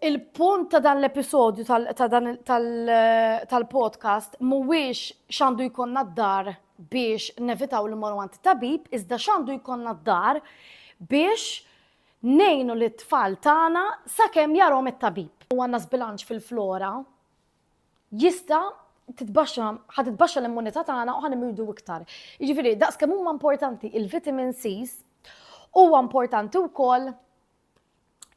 Il-punt ta' dan l-episodju tal-podcast mhuwiex x'għandu jkollna d-dar biex nevitaw li morru għand tabib, iżda x'għandu jkollna d-dar biex nejnu li t-tfal tagħna sakemm jarhom it-tabib. U għandna żbilanċ fil-flora jista' titbaxxa ħa titbaxxa l-immunità tagħna u ħa nimridu iktar. Jiġifieri daqs kemm huma importanti il-vitamin C's, huwa importanti wkoll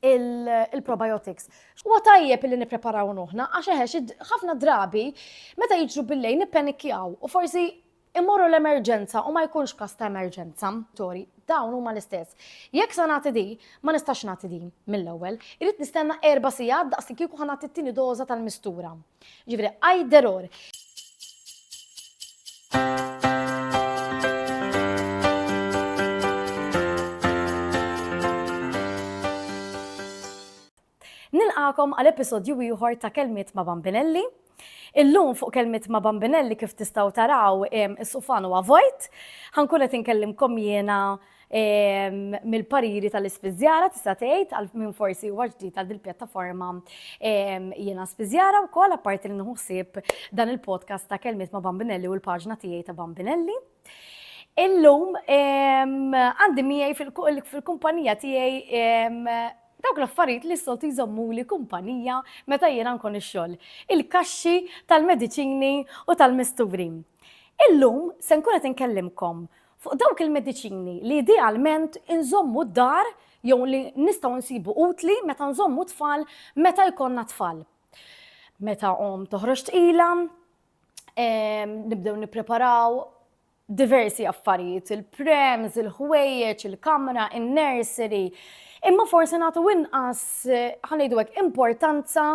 il-probiotics. Huwa tajjeb li nippreparaw nuħna, għax eħex ħafna drabi meta jiġru billej nippenikjaw u forsi immorru l-emerġenza u ma jkunx kas ta' emerġenza. Tori, dawn huma l-istess. Jekk sa nagħti di, ma nistax nagħti di mill-ewwel. Irid nistenna erba' sigħat daqs li kieku ħa nagħti t-tieni doża tal-mistura. Jiġifieri either or. Nilqakom għal episodju ieħor ta' Kelmiet ma' Bambinelli. Illum fuq kelmiet ma' Bambinelli kif tistgħu taraw is-sufan huwa vojt. Ħankun qed inkellimkom jiena mill-pariri tal-ispiżjara tista' tgħid għal min forsi huwa ġdid għal dil-pjattaforma jiena spiżjara wkoll apparti li nħuħsib dan il-podcast ta' kelmiet ma' Bambinelli u l-paġna tiegħi ta' Bambinelli. Illum għandi miegħi fil-kumpanija tiegħi dawk l-affarijiet li s-soltu jżommu li kumpanija meta jiena nkun ix-xogħol. Il-kaxxi tal-mediċini u tal-misturi. Illum se nkun qed inkellimkom Fuq dawk il-mediċini li idealment inżommu d-dar jew li nistgħu nsibu utli meta nżommu tfal meta jkollna tfal. Meta omm toħroġ tqila, ehm, nibdew nippreparaw diversi affarijiet, il-prems, il-ħwejjeġ, il-kamra, in-nursery. Imma forsi nagħtu inqas eh, ħanejdu hekk importanza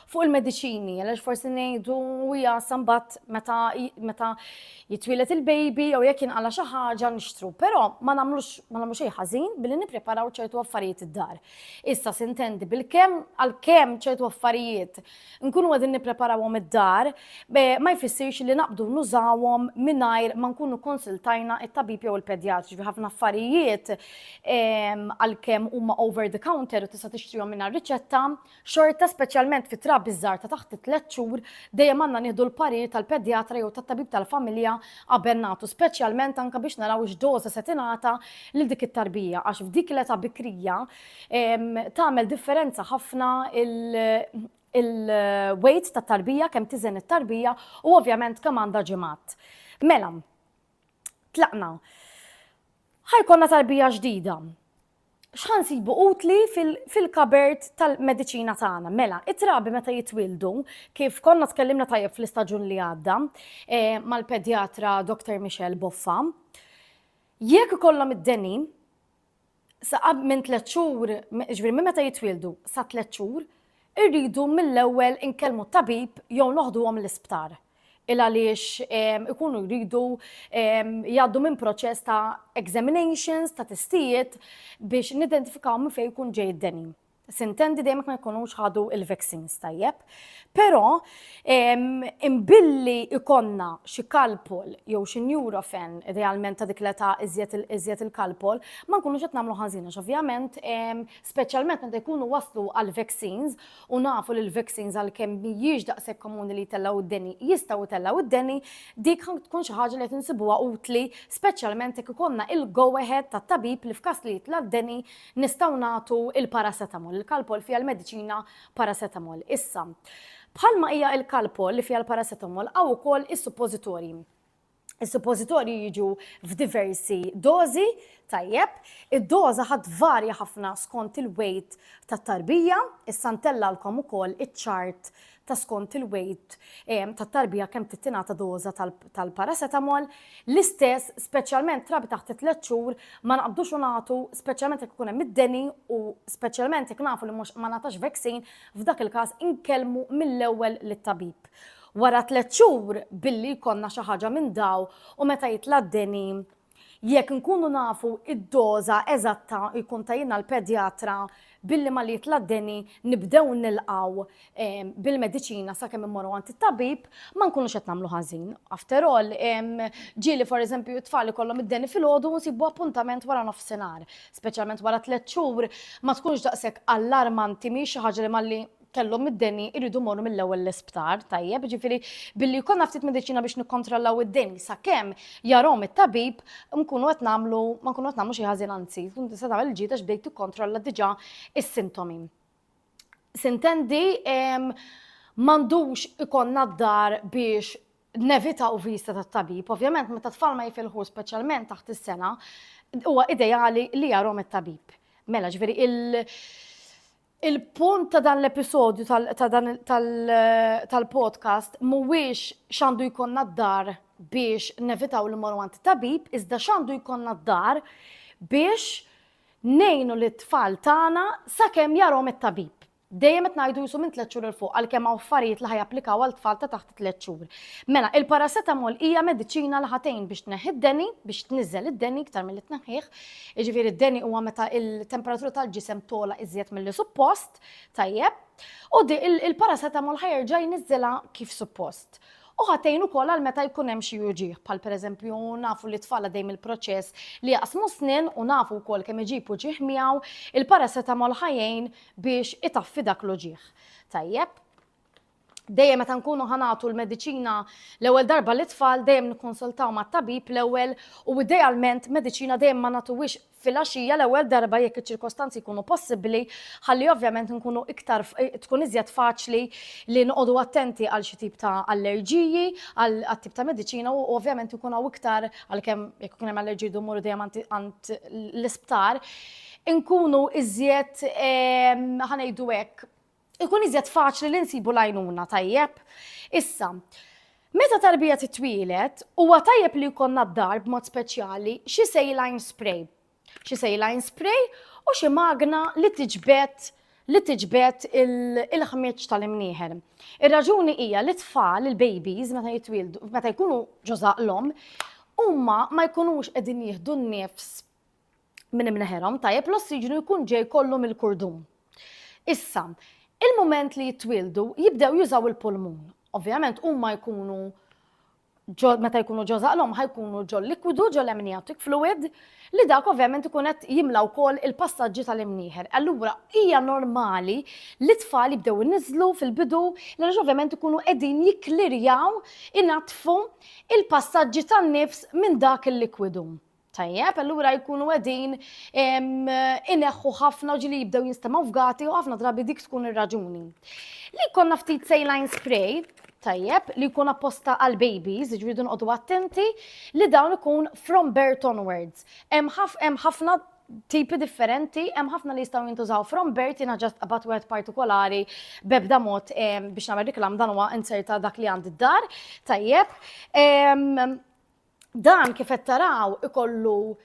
Fuq il-mediċini, għalax forsi ngħidu u jasa mbagħad meta meta jitwielet il-baby jew jekk jinqala xi ħaġa nixtru, però ma nagħmlux ma nagħmlu xejn ħażin billi nippreparaw ċertu affarijiet id-dar. Issa sintendi bil-kemm għal kemm ċertu affarijiet nkunu qegħdin nippreparawhom id-dar ma jfissirx li naqbdu nużawhom mingħajr ma nkunu konsultajna it-tabib jew il-pedjatri fi ħafna affarijiet ehm, għal kemm huma over the counter u tista' tixtrihom mingħajr riċetta Xorta, speċjalment fit-trabi ż-żgħar ta' taħt it-tliet xhur, dejjem għandna nieħdu l-parir tal-pedjatra jew tat-tabib tal-familja qabel nagħtu, speċjalment anke biex naraw x'doża se tingħata lil dik it-tarbija għax f'dik l-età bikrija tagħmel differenza ħafna il-weight tat-tarbija, kemm tiżen it-tarbija u ovvjament kemm għandha ġimgħat. Mela, tlaqna. Ħa jkollna tarbija ġdida. x'ħa nsibu utli fil-kabert tal-mediċina tagħna. Mela, it-trabi meta jitwildu, kif konna tkellimna tajjeb fl-istaġun li għadda eh, mal-pedjatra Dr. Michel Boffa, jekk ikollhom id-deni, saqab minn tliet xhur, ġifieri minn meta jitwildu sa tliet xhur, irridu mill-ewwel inkellmu tabib jew noħduhom l-isptar. il għaliex ikunu jridu jgħaddu minn proċess ta' examinations, ta' testijiet biex nidentifikaw minn fejn jkun ġej id-deni. Sintendi dejjem ma jkunux ħadu il-vaccines tajjeb. Però imbilli ikonna xi kalpol jew xi neurofen idealment ta' dik l-età iżjed il-kalpol, ma nkunux qed nagħmlu ħażin għax ovvjament speċjalment meta jkunu waslu għall-vaccines u nafu li l-vaccines għalkemm mhijiex daqshekk komuni li jtellgħu d-deni, jistgħu jtellgħu d-deni, dik tkun xi ħaġa li qed insibuha utli, speċjalment jekk ikollna il-go ahead tat-tabib li f'każ li jitla' d-deni nistgħu nagħtu l-paracetamol, il-Calpol fiha l-mediċina paracetamol. Issa, bħalma hija l-Calpol li fiha l-paracetamol hawn ukoll is-suppożitorji. Is-suppożitorji jiġu f'diversi dożi, tajjeb, id-doża ħa tvarja ħafna skont il-wejt tat-tarbija, issa ntellgħalkom ukoll iċ-ċart ta' skont il-wejt ehm, tat-tarbija kemm tittingħata doża tal-paracetamol, l-istess speċjalment trabi taħt it-tliet xhur ma naqbdux u nagħtu speċjalment jekk ikun hemm id-deni u speċjalment jekk nafu li mhux ma nagħtax vaccine f'dak il-każ inkellmu mill-ewwel lit-tabib. Wara tliet xhur billi jkollna xi ħaġa minn daw u meta jitla' d-deni, jekk nkunu nafu id-doża eżatta jkun tgħinna l-pedjatra billi malli jitla' d-deni nibdew nilqgħu bil-mediċina sakemm immorru għand it-tabib, ma nkunux qed nagħmlu ħażin. After all, ġieli for eżempju t-tfal ikollhom id-deni filgħodu u nsibu appuntament wara nofsinhar. Speċjalment wara tliet xhur ma tkunx daqshekk allarmanti, mhijiex xi ħaġa li malli kellhom id-deni jridu morru mill-ewwel l-isptar, tajjeb, ġifieri billi jkollna ftit mediċina biex nikkontrollaw id-deni sakemm jarhom it-tabib nkunu qed nagħmlu ma nkunu qed nagħmlu xi ħażin anzi, tkun tista' tagħmel il-ġieda x'bdejt tikkontrolla diġà is-sintomi. Sintendi m'għandux ikonna d-dar biex nevita u vista ta' tabib, ovvjament meta tfal ma jifilħu speċjalment taħt is-sena, huwa ideali li jarhom it-tabib. Mela ġifieri il- Il-punt ta' dan l-episodju tal-podcast mhuwiex x'għandu jkollna d-dar biex nevitaw li mmorru għand tabib, iżda x'għandu jkollna d-dar biex ngħinu lit-tfal tagħna sakemm jarhom it-tabib. Dejjem qed ngħidu qisu minn tliet xhur 'il fuq għalkemm hawn affarijiet li ħa japplikaw għal tfal ta' taħt tliet xhur. Mela, il-paracetamol hija mediċina li ħatejn biex tneħħi d-deni, biex tniżżel id-deni iktar milli tneħħih. Jiġifieri d-deni huwa meta il-temperatura tal-ġisem tola iżjed milli suppost, tajjeb. U di il-paracetamol ħajerġa' jniżżilha kif suppost. U ħatejn ukoll għal meta jkun hemm xi uġieħ, bħal pereżempju nafu li tfal għaddej mill-proċess li jaqsmu snin u nafu wkoll kemm iġib uġieħ miegħu, il-paracetamol ħajjejn biex itaffi dak l-uġieħ. Tajjeb, dejjem meta nkunu ħanatu l-mediċina l-ewwel darba li tfal dejjem nikkonsultaw mat-tabib l-ewwel u idealment mediċina dejjem ma nagħtuwix fil-għaxija l-ewwel darba jekk iċ-ċirkostanzi jkunu possibbli ħalli ovvjament nkunu iktar eh, tkun iżjed faċli li noqogħdu attenti għal xi tip ta' allerġiji għal tip ta' mediċina u ovvjament ikun hawn iktar għalkemm jekk ikun hemm allerġiji dumur dejjem għand l-isptar inkunu iżjed ehm, ħanejdu hekk ikun iżjed faċli li nsibu l-għajnuna tajjeb. Issa, meta tarbija titwielet, huwa tajjeb li jkollna d-dar b'mod speċjali xi saline spray. Xi saline spray u xi magna li tiġbed li tiġbed il-ħmieġ tal-imnieħer. Ir-raġuni hija li tfal, il-babies, meta jitwildu, meta jkunu ġożaq l-om, huma ma jkunux qegħdin jieħdu n-nifs minn imneħerhom, tajjeb, l-ossiġnu jkun ġej kollu mill-kurdum. Issa, il-mument li jitwildu jibdew jużaw il-pulmun. Ovvjament huma jkunu meta jkunu ġo zaqlhom ħajkunu ġo likwidu ġo l-amniotic fluid li dak ovvjament ikun qed jimla wkoll il-passaġġi tal-imnieħer. Allura hija normali li tfal jibdew iniżlu fil-bidu li ovvjament ikunu qegħdin jikklirjaw inatfu il-passaġġi tan-nifs minn dak il-likwidu. Tajjeb, allura jkunu qegħdin ineħħu ħafna ġili jibdew jinstema' fgati u ħafna drabi dik tkun ir-raġuni. Li konna ftit saline spray, tajjeb, li jkun apposta għal babies, ġridu nqodu attenti, li dawn ikun from birth onwards. Hemm ħafna tipi differenti, hemm ħafna li jistgħu jintużaw from birth jiena ġast qabat wieħed partikolari bebda mod biex nagħmel reklam dan huwa inserta dak li għandi d-dar, tajjeb. Dan kif qed taraw ikollu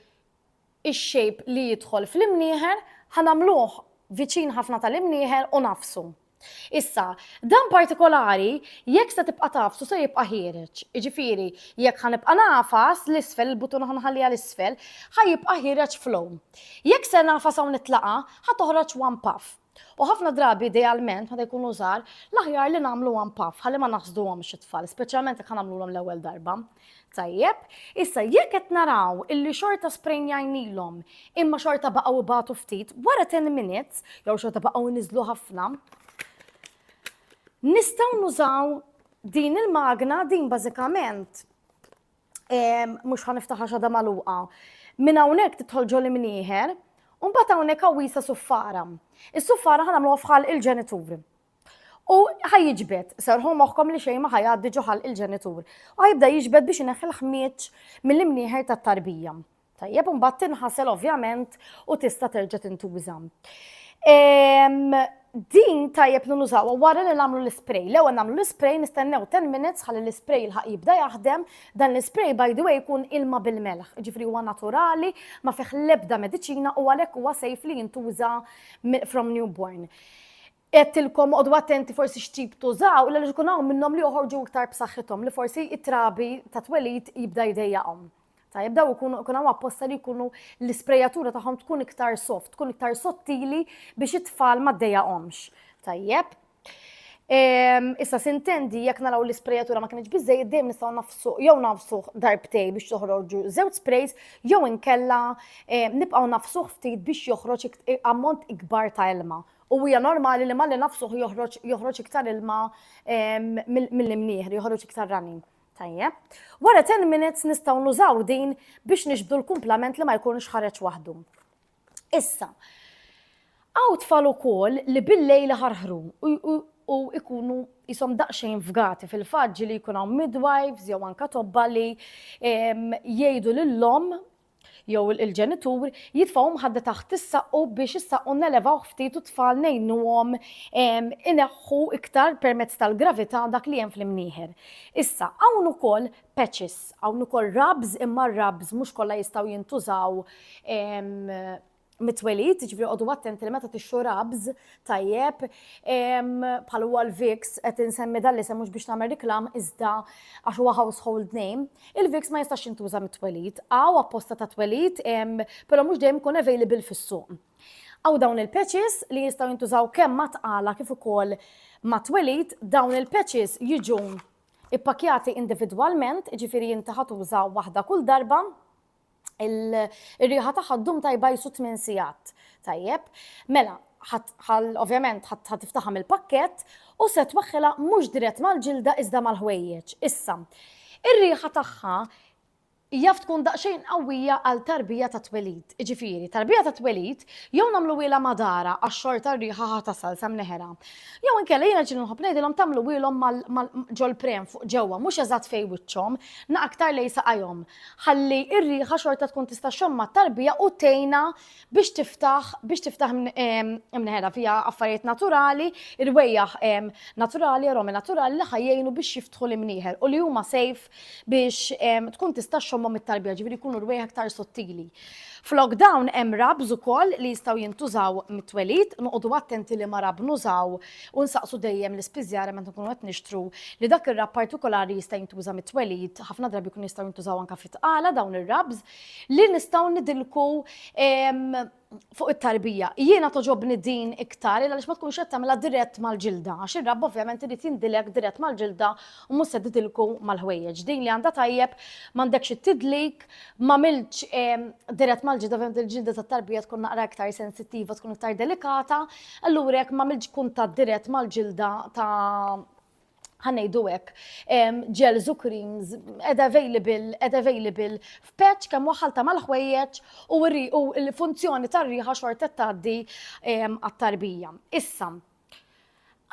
x-shape li jidħol fl-imnieħer, ħa nagħmluh viċin ħafna tal-imnieħer u nagħfsu. Issa, dan partikolari jekk se tibqa' tagħfsu se jibqa' ħiereġ. Jiġifieri, jekk ħa nibqa' nagħfas l-isfel, il-butuna ħa nħalliha l-isfel, ħa jibqa' ħiereġ flow. Jekk se nagħfas hawn it-tlaqa', ħa toħroġ one puff. U ħafna drabi idealment meta jkunu żgħar, l-aħjar li nagħmlu one puff ħalli ma naħsduhomx it-tfal, speċjalment jekk nagħmluhom l-ewwel darba. Tajjeb, issa jekk qed naraw illi xorta sprejnjajnilhom imma xorta baqgħu ibatu ftit, wara 10 minutes jew xorta baqgħu niżlu ħafna, nistgħu nużaw din il-magna din bażikament mhux ħaniftaħa xada magħluqa. Minn hawnhekk tidħol ġol imnieħer, u mbagħad hawnhekk għawisa suffara. Is-suffara ħanamluha fħal il-ġenitur. U ħajġbet, serħu moħħkom li xejn ma ħajgħaddi ġoħal il-ġenitur. U ħajibda jiġbed biex ineħħi l-ħmieġ mill-imnieħer tat-tarbija. Tajjeb, imbagħad tinħasel ovvjament u tista' terġa' tintuża. Din tajjeb li nużawha wara li nagħmlu l-ispray. L-ewwel nagħmlu l-ispray nistennew 10 minutes ħalli l-ispray l-ħaq jibda jaħdem. Dan l-ispray by the way jkun ilma bil-melħ, ġifri huwa naturali, ma fih l-ebda mediċina u għalhekk huwa safe li jintuża from newborn. Għedtilkom qogħdu attenti forsi x'tip tużaw għaliex ikun hawn minnhom li joħorġu iktar b'saħħithom li forsi t-trabi ta' twelid jibda jdejjaqhom. Tajjeb daw ikunu ikun hawn apposta li jkunu l-isprejatura tagħhom tkun iktar soft, tkun iktar sottili biex it-tfal ma ddejjaqhomx. Tajjeb. Ehm, issa sintendi jekk naraw l-isprejatura ma kienx biżejjed dejjem nistgħu nafsu jew nafsu darbtej biex toħroġu żewġ sprays jew inkella ehm, nibqgħu nafsu ftit biex joħroġ ammont ikbar ta' ilma. U hija normali li malli nafsuh joħroġ joħroġ iktar ilma mill-imnieħ, joħroġ iktar running. Tajjeb. Wara 10 minutes nistgħu nużaw din biex nixbdu l-kumplament li ma jkunx ħareġ waħdu. Issa, għaw tfal ukoll li bil-lejl ħarħru u ikunu jisom daqxejn fgati fil-faġġi li jkun hawn midwives jew anka tobba li jgħidu lill-lom jew il-ġenitur jitfgħu mħadda taħt is-saqqu biex is-saqqu nelevawh ftit u t-tfal ngħinuhom ineħħu iktar permezz tal-gravità dak li hemm fl-imnieħer. Issa, hawn ukoll patches, hawn ukoll rubs imma r-rubs mhux kollha jistgħu jintużaw mit-twelid, ġifri għodu attenti li meta tixxu rabz tajjeb, bħal huwa l-Vix, qed insemmi dan li mhux biex tagħmel riklam iżda għax huwa household name, il-Vix ma jistax jintuża mit-twelid. Għaw apposta ta' twelid, però mhux dejjem ikun available fis-suq. Għaw dawn il-patches li jistgħu jintużaw kemm ma tqala kif ukoll ma twelid, dawn il-patches jiġu ippakjati individwalment, ġifiri jinti ħatuża waħda kull darba, ir-riħa tagħha ddum tajba jisu 8 sigħat. Tajjeb, mela, ovvjament ħadd tiftaħam il-pakkett u se twaħħilha mhux dirett mal-ġilda iżda mal-ħwejjeġ. Issa, ir-riħa tagħha jaf tkun daqsxejn qawwija għal tarbija ta' twelid. Ġifieri, tarbija ta' twelid jew nagħmlu wiela madara għax-xorta r-riħa ħa tasal sa mneħera. Jew inkella jiena ġieli nħobb ngħidilhom tagħmlu wielhom ġol-prem fuq ġewwa mhux eżatt fejn wiċċhom, na aktar lejn saqajhom. ħalli r-riħa xorta tkun tista' xomma tarbija u tejna biex tiftaħ biex tiftaħ imneħela fija affarijiet naturali, irwejjaħ naturali, aromi naturali li ħajjejnu biex jiftħu l-imnieħel u li huma sejf biex tkun tista' xomma mit-tarbija ġifieri jkunu rwejjaħ aktar sottili. Flok dawn hemm rabs ukoll li jistgħu jintużaw mit-twelid, noqogħdu attenti li ma rab nużaw u nsaqsu dejjem l-ispiżjara meta nkunu qed nixtru li dak ir-rabb partikolari jista' jintuża mit-twelid, ħafna drabi jkunu jistgħu jintużaw anke fit-tqala dawn ir-rabbs, li nistgħu nidilku fuq it-tarbija. Jiena togħġobni din iktar għaliex ma tkunx qed tagħmilha dirett mal-ġilda għax ir-rabb ovvjament irid jindilek dirett mal-ġilda u mhux se tidilku mal-ħwejjeġ. Din li għandha tajjeb m'għandekx it-tidlik, m'għamiltx dirett mal-ġilda, ovvjament il-ġilda tat-tarbija tkun naqra iktar sensittiva, tkun iktar delikata, Allura jekk m'għamiltx kuntatt dirett mal-ġilda ta' ħanejdu hekk, gels u creams ed available, ed available f'patch kemm waħħal ta' mal-ħwejjeġ u l-funzjoni tar-riħa xorta tgħaddi għat-tarbija. Issa,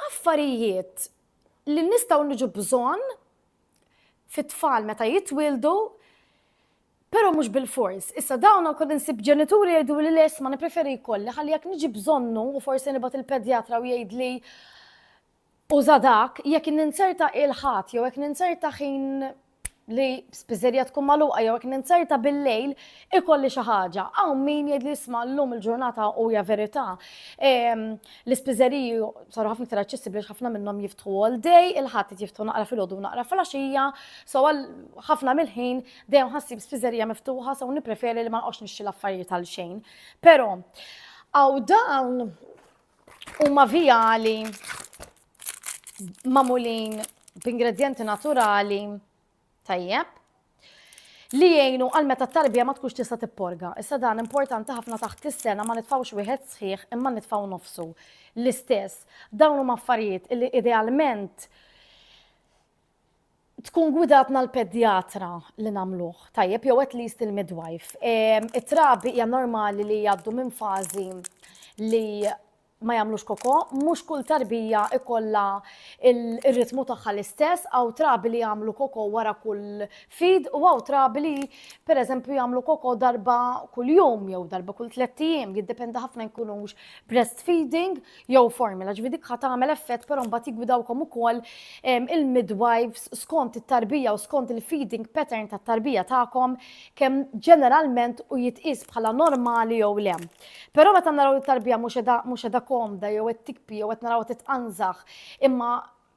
affarijiet li nistgħu niġu bżonn fit-tfal meta jitwieldu Però mhux bilfors. Issa dawn ukoll insib ġenituri jgħiduli le isma' nippreferi jkolli ħalli jekk niġi bżonnu u forsi nibgħat il-pedjatra u jgħidli uża dak, jekk ninzerta il Ħadd jew jekk ninzerta ħin li spiżerija tkun magħluqa jew jekk ninzerta bil-lejl ikolli xi ħaġa. Hawn min jgħidli isma' llum il-ġurnata u hija verità. Ehm, l-ispiżeriji saru ħafna iktar aċċessibbli ħafna minnhom jiftħu all day, il-Ħadd jiftħu naqra filgħodu naqra fil-għaxija, so ħafna mill-ħin Dejjem ħassib spiżerija miftuħa so nippreferi li ma noqgħodx nixtri l-affarijiet għal xejn. Però għaw dawn huma vijali mamulin b'ingredjenti naturali tajjeb li jgħinu għal meta t-tarbija ma tkunx tista' tipporga. Issa dan importanti ħafna taħt is-sena ma nitfawx wieħed sħiħ imma nitfaw nofsu. L-istess, dawn huma affarijiet li idealment tkun gwidatna l-pedjatra li nagħmluh tajjeb jew at least il-midwife. Ehm, it-trabi hija normali li jgħaddu minn fażi li ma jagħmlux koko, mhux kull tarbija ikolla il-ritmu tagħha l-istess, għaw trabi li jagħmlu koko wara kull fid u għaw trabi li pereżempju jagħmlu koko darba kull jum jew darba kull tliet ijiem, jiddependa ħafna jkunux breastfeeding jew formula, ġifi dik ħat tagħmel effett però mbagħad jigwidawkom ukoll il-midwives skont it-tarbija u skont il-feeding pattern tat-tarbija tagħkom kemm ġeneralment u jitqis bħala normali jew le. Però meta naraw it-tarbija mhux edha komda jew qed tikpi jew qed naraw titqanżaħ imma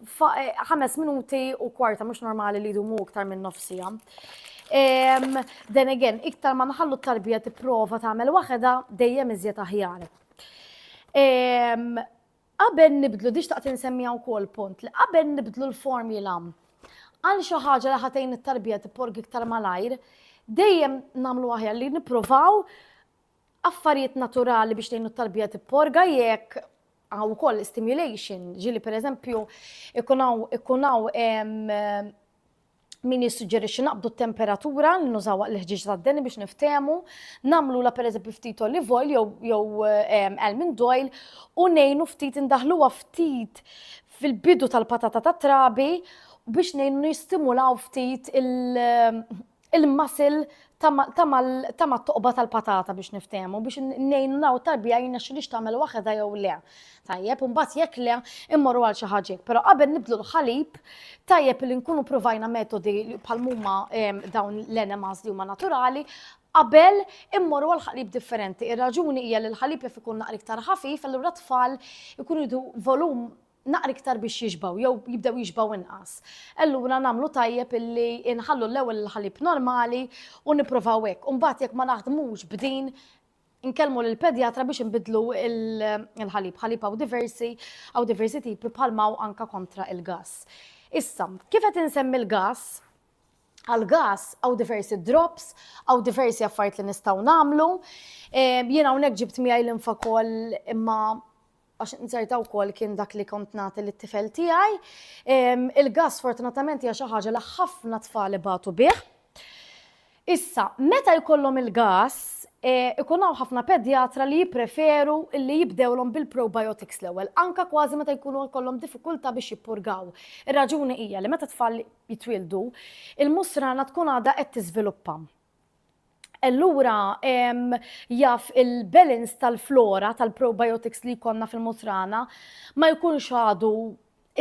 Eh, ħames minuti u kwarta mhux normali li jdumu iktar minn nofsija. Then again, iktar ma nħallu t-tarbija tipprova tagħmel waħedha dejjem iżjed aħjar. Qabel nibdlu, diġ taqt insemmija wkoll punt li qabel nibdlu l-formula għal xi ħaġa li ħatejn it-tarbija tipporg iktar malajr, dejjem nagħmlu aħjar li nippruvaw affarijiet naturali biex tgħinu t-tarbija tipporga jekk għaw ukoll stimulation, ġili per eżempju ikun hawn min jissuġġerixxi naqbdu t-temperatura li nużaw l-ħġieġ tad-deni biex niftehmu, nagħmlu la pereżempju ftit olive oil jew almond oil u ngħinu ftit indaħluha ftit fil-bidu tal-patata tat-trabi biex ngħinu nistimulaw ftit il-masil ta' mat-toqba tal-patata biex niftehmu, biex ngħinu naw tarbija jirnexxilix tagħmel waħedha jew le. Tajjeb, u mbagħad jekk le, immorru għal xi ħaġa Però qabel nibdlu l-ħalib, tajjeb li nkunu provajna metodi bħal huma ehm, dawn l-enemas li huma naturali, qabel immorru għal ħalib differenti. Ir-raġuni hija li l-ħalib jaf ikun naqra iktar ħafif, allura tfal ikunu jdu volum naqra iktar biex jixbgħu jew jibdew jixbgħu inqas. Allura nagħmlu tajjeb illi inħallu l-ewwel il-ħalib normali u nipprovaw hekk. U mbagħad jekk ma naħdmux b'din nkellmu lill-pedjatra biex inbidlu l-ħalib. Ħalib hawn diversi, hawn diversi tipi bħalma hawn anke kontra il-gas. Issa, kif qed insemmi l-gas, għal-gas għaw diversi drops, għaw diversi affarijiet li nistgħu nagħmlu. Jiena hawnhekk ġibt miegħi l-infa kol imma għax nzerta wkoll kien dak li kont nagħti lit-tifel tiegħi. Il-gas fortunatament hija xi ħaġa li ħafna tfal ibatu bih. Issa, meta jkollhom il-gas, e, ikun hawn ħafna pedjatra li jippreferu li jibdewlhom bil-probiotics l-ewwel, anka kważi meta jkunu jkollhom diffikultà biex jippurgaw. Ir-raġuni hija li meta tfal jitwildu, il-musrana tkun għadha qed tiżviluppa. Allura jaf il-balance tal-flora tal-probiotics li jkollna fil-mutrana ma jkunx għadu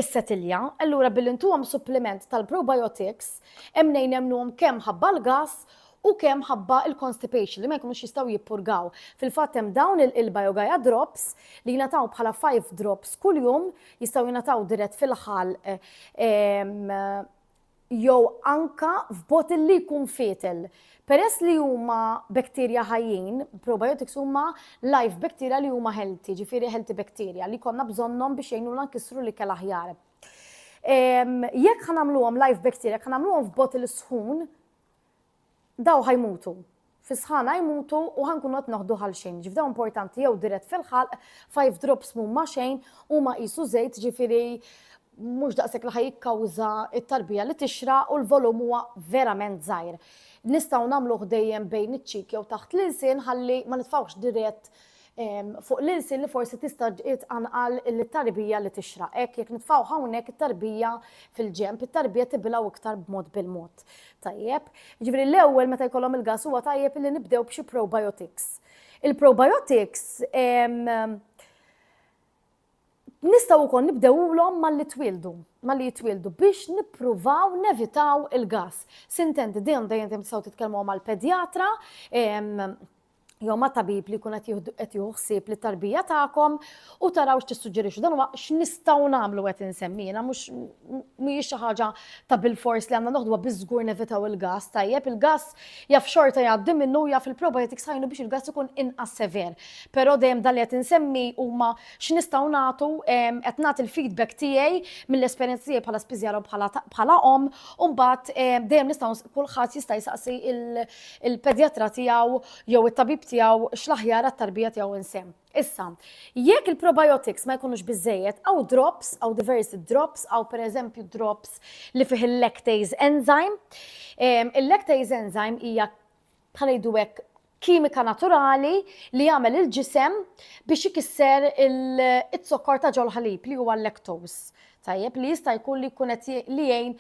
is-setilja, allura billi ntuhom suppliment tal-probiotics hemm nejn nemnuhom kemm ħabba l-gas u kemm ħabba il-constipation li ma jkunux jistgħu jippurgaw. Fil-fatt hemm dawn il-Biogaia drops li jingħataw bħala 5 drops kuljum jistgħu jingħataw dirett fil-ħalq jew anke f'bottle li jkun fietel. Peress li huma bacteria ħajjin, probiotics huma live bacteria li huma healthy, ġifieri healthy bacteria, li jkollna bżonnhom biex jgħinuna nkissru l-ikel aħjar. Jekk ħa nagħmluhom live bacteria, jekk ħa nagħmluhom f'bottle sħun, Daw ħa jmutu. Fis-sħana ħa jmutu u ħa nkunu qed noħdu ħal xejn. Jiġifieri daw importanti jew dirett fil-ħalq, five drops mhum ma' xejn, huma qisu żejt ġifieri mhux daqshekk li ħa jikkawża t-tarbija li tixraq u l-volum huwa verament żgħir. Nistgħu nagħmluh dejjem bejn iċ-cheek jew taħt l-ilsien ħalli ma nitfgħux dirett fuq l-ilsien li forsi tista' tqanqal it-tarbija li tixraq. Hekk jekk nitfgħu hawnhekk it-tarbija fil-ġenb, it-tarbija tibilgħu iktar b'mod bil-mod. Tajjeb. Jiġifieri l-ewwel meta jkollhom il-gas huwa tajjeb li nibdew b'xi probiotics. Il-probiotics nistgħu wkoll nibdewulhom malli twieldu, malli jitwieldu biex nippruvaw nevitaw il-gas. Sintent dejjem dejjem tistgħu titkellmu mal-pedjatra jew ma' tabib li jkun qed jieħu ħsieb li tarbija tagħkom u taraw x'tissuġġerixxu. Dan huwa x'nistgħu nagħmlu qed insemmina mhux mhijiex xi ħaġa ta' bil-fors li għandna noħduha biżgur nevitaw il-gas tajjeb. Il-gas jaf xorta jgħaddi minnu jaf il-probiotics ħajnu biex il-gas ikun inqas sever. Però dejjem dan li qed insemmi huma x'nistgħu nagħtu qed nagħti il-feedback tiegħi mill-esperjenza tiegħi bħala spiżjara u bħala om u mbagħad dejjem nistgħu kulħadd jista' jsaqsi il-pedjatra tiegħu jew it-tabib tiegħu x'l-aħjar għat-tarbija tiegħu insemm. Issa, jekk il-probiotics ma jkunux biżejjed, għaw drops, għaw diversi drops, għaw per eżempju drops li fih il-lactase enzyme. Ehm, il-lactase enzyme hija bħalajdu hekk kimika naturali li jagħmel il-ġisem biex ikisser il-zokkor ta' ġol ħalib li huwa l-lactose. Tajjeb, li jista' jkun li jkun qed li jgħin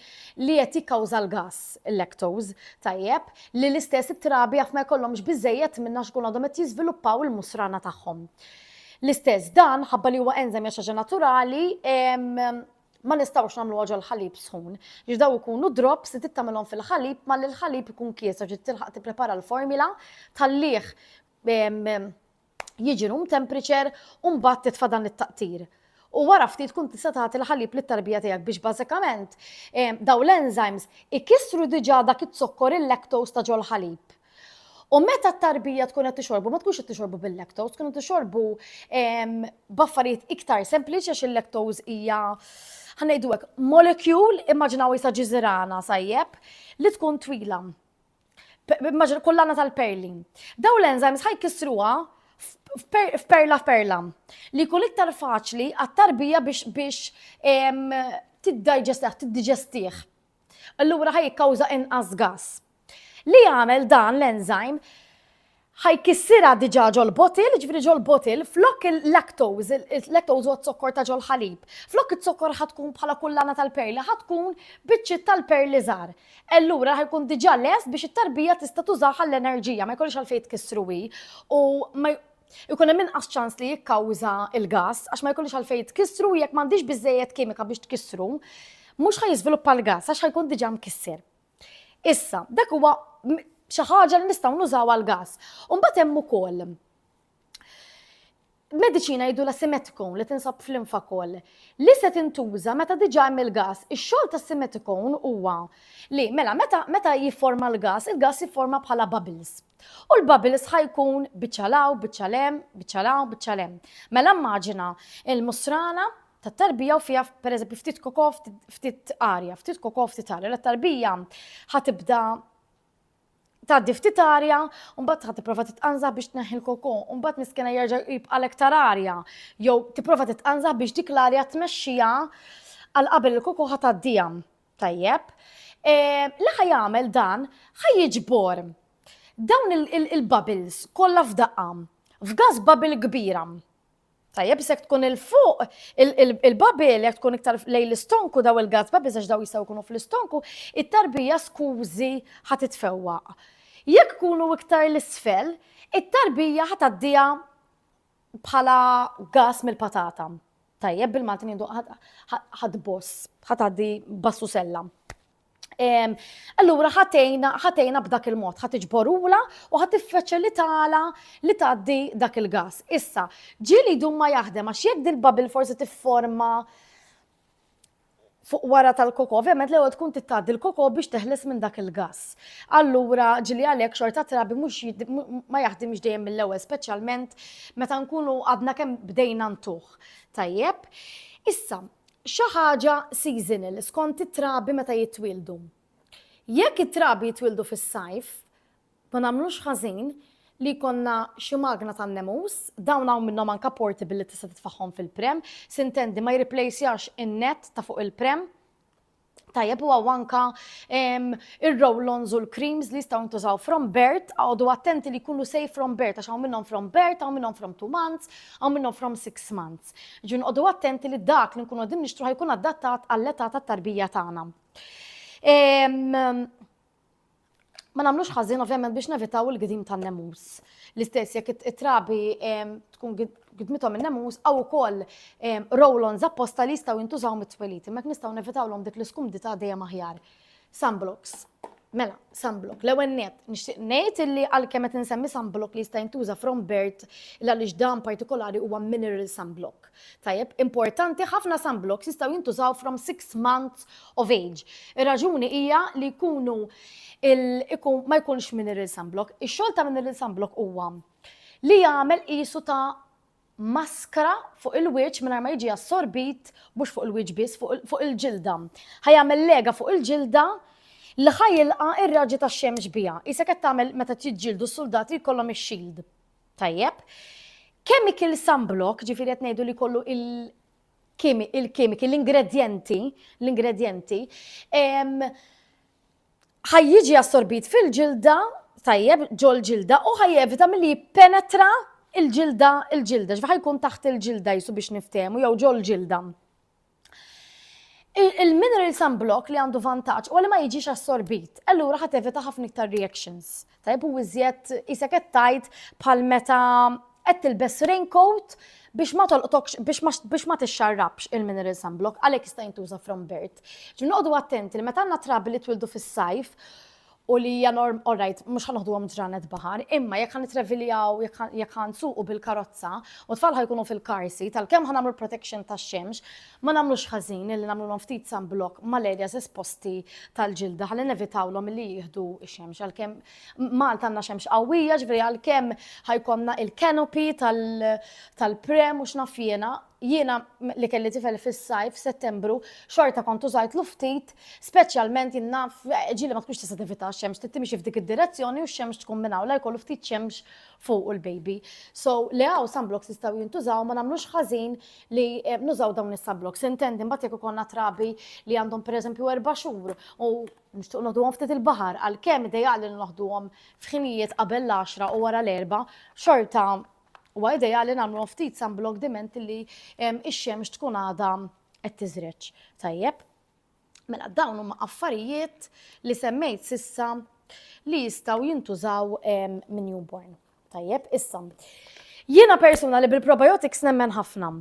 li qed jikkawża l-gass, il-lactose, tajjeb, li l-istess it-trabi jaf ma jkollhomx biżżejjed minnha għax ikunu għadhom qed jiżviluppaw il-musrana tagħhom. L-istess dan, ħabba li huwa enżem hija xi ħaġa naturali, ma nistgħux nagħmluha ġol-ħalib sħun. Għax daw ikunu drops li tittamilhom fil-ħalib malli l-ħalib ikun kieser ġiet tilħaq tipprepara l-formula, tħallih jiġi room temperature u mbagħad titfa' dan it-taqtir. U wara ftit tkun tista' tagħti l-ħalib lit-tarbija tiegħek biex bażikament ehm, dawn l-enzymes ikissru diġà dak iz-zokkor il-lactose ta' ġol-ħalib. U meta t-tarbija tkun qed tixorbu, ma tkunx qed tixorbu bil-lactose, tkun qed tixorbu ehm, b'affarijiet iktar sempliċi għax il-lactose hija ħanejdu hekk molecule, immaġinaw isa ġiżirana sajjeb li tkun twila. kullana tal-perli. Daw l-enzymes ħaj kisruha f'perla f'perla li jkun iktar faċli għat-tarbija biex tiddigestih, tiddigestih. Allura ħaj jikkawża inqas gas. Li jagħmel dan l-enzyme ħa jkissirha diġà ġol-bottle, jiġifieri ġol-bottle, flok il-lactose, il-lactose huwa z-zokkor ta' ġol-ħalib, flok iz-zokkor ħa tkun bħala kullana tal-perli, ħa tkun biċċiet tal-perli żgħar. Allura ħa jkun diġà lest biex it-tarbija tista' tużah għall-enerġija, ma jkollhiex għalfejn tkissru hi u ma ikun hemm inqas ċans li jikkawża l-gass għax ma jkollhiex għalfejn tkissru u jekk m'għandhiex biżżejjed kimika biex tkissru, mhux ħa jiżviluppa l-gass għax ħa jkun diġà mkisser. Issa, dak huwa xi ħaġa li nistgħu nużaw għal gas. U mbagħad hemm ukoll mediċina jgħidu la simetikon li tinsab fl-infa koll li se tintuża meta diġa hemm il-gas. Ix-xogħol ta' simetikon huwa li mela meta meta jifforma l-gas, il-gas jifforma bħala bubbles. U l-babil sħa jkun biċċa law, biċċa lem, biċċa law, biċċa lem. Mela immaġina il-musrana ta' tarbija u fija per eżempju ftit kokof, ftit arja, ftit kokof, ftit arja. L-tarbija ħatibda tgħaddi ftit arja, u mbagħad ħad tipprova titqanża biex tneħħi l-koko, u mbagħad miskena jerġa' jibqa' l-iktar arja, jew tipprova titqanża biex dik l-arja tmexxija għal qabel il-koko ħataddija. Tajjeb. Li ħa jagħmel dan ħa jiġbor dawn il-bubbles kollha f'daqqa f'gas bubble kbira. Tajjeb, se tkun il-fuq, il-babil, jek tkun iktar lej l-istonku daw il-gas babil, zax daw jistaw kunu fl-istonku, it-tarbija skużi ħat itfewwa. Jek kunu iktar l-isfel, it-tarbija ħat għaddija bħala gas mill-patata. Tajjeb bil-Malti ngħidu ħad boss, ħad għaddi bassu sella. Allura ħatejna ħatejna b'dak il-mod, ħat iġborula u ħat tiffaċilitala li tgħaddi dak il-gas. Issa, ġieli jdum ma jaħdem għax jekk din bubble forsi tifforma fuq wara tal-koko, ovvjament l-ewwel tkun tittgħaddi l-koko biex teħles minn dak il-gass. Allura ġieli għalhekk xorta trabi mhux ma jaħdimx dejjem mill-ewwel speċjalment meta nkunu għadna kemm bdejna ntuh. Tajjeb. Issa, xi ħaġa seasonal skont it-trabi meta jitwieldu. Jekk it-trabi jitwieldu fis-sajf, Ma nagħmlux ħażin li jkollna xi magna tan-nemus, dawn hawn minnhom anke portable li tista' titfagħhom fil-pram, s'intendi ma jirriplejsjax in-nett ta' fuq il-pram. Tajjeb u hawn anke ir-roll-ons u l-creams li jistgħu jintużaw from birth, oqogħdu attenti li jkunu safe from birth għax hawn minnhom from birth, hawn minnhom from two months, hawn minnhom from six months. Jiġifieri noqogħdu attenti li dak li nkunu qegħdin nixtru ħa jkun adattat għall-età tat-tarbija tagħna. ma nagħmlux ħażin ovvjament biex nevitaw il-gdim tan-nemus. L-istess jekk it-trabi tkun gidmithom in-nemus għaw ukoll roll-ons apposta li jistgħu jintużaw mit-twelid, imma nistgħu nevitawlhom dik l-iskumdità dejjem aħjar. Sunblocks. Mela, sunblock. L-ewwel net, nixtieq ngħid illi għalkemm qed insemmi sunblock li jista' jintuża from bird l għaliex dan partikolari huwa mineral sunblock. Tajjeb, importanti, ħafna sunblocks jistgħu jintużaw from six months of age. Ir-raġuni hija li jkunu ma jkunx mineral sunblock. Ix-xogħol ta' mineral sunblock huwa li jagħmel qisu ta' maskra fuq il-wiċċ mingħajr ma jiġi assorbit mhux fuq il-wiċċ biss fuq il-ġilda. Ħajamel lega fuq il-ġilda li ħajilqa' ir-raġi tax-xemx biha. Isek qed tagħmel meta tiġġieldu s-suldati jkollhom ix-shield. Tajjeb. Chemical sunblock, ġifiri qed ngħidu li kollu il- il-kimiki, l-ingredjenti, l-ingredjenti, ħajjiġi assorbit fil-ġilda, tajjeb, ġol ġilda, u ħajjevita mill-li penetra il-ġilda, il-ġilda, ġifħa jkun taħt il-ġilda jisu biex niftemu, jew ġol ġilda. Il-mineral sunblock li għandu vantaġġ u li ma jiġix assorbit, allura ħa tevita ħafna iktar reactions. Tajb u iżjed isek qed tajt bħal meta qed tilbes raincoat biex ma tolqtokx biex ma tixxarrabx il-mineral sunblock għalhekk jista' jintuża from birth. Ġi noqogħdu attenti li meta għandna trabi li twildu fis-sajf u li hija norm, all right, mhux ħanoħduhom ġranet baħar, imma jekk ħanitreviljaw, jekk ħansuqu bil-karozza u tfal ħajkunu fil-car seat, għalkemm ħanagħmlu protection tax-xemx, ma nagħmlux ħażin li nagħmlulhom ftit sunblock mal-areas esposti tal-ġilda ħalli nevitawlhom li jieħdu x-xemx. Għalkemm Malta għandna xemx qawwija, ġifieri għalkemm ħajkonna il-canopy tal-prem u x'naf jiena, Jiena, li kelli tifel fis-sajf, f'Settembru, xorta kont użajtlu ftit, speċjalment jien naf ġieli ma tkunx tista' tevita x-xemx, trid timxi f'dik id-direzzjoni u x-xemx tkun minn hawn, la jkollu ftit xemx fuqu l-baby. So, li hawn sunblocks jistgħu jintużaw, ma nagħmlux ħażin li nużaw dawn is-sunblocks. Intendi mbagħad jekk ikollna trabi li għandhom pereżempju erba' xhur u nixtiequ noħduhom ftit il-baħar, għalkemm ideali li noħduhom f'ħinijiet qabel l-għaxra u wara l-erbgħa, xorta Huwa ideali nagħmluhom ftit sunblock diment li x-xemx tkun għadha qed tiżreġ. Tajjeb. Mela dawn huma affarijiet li semmejt sissa li jistgħu jintużaw minn newborn. Tajjeb, issa. Jiena persuna li bil-probiotics nemmen ħafna.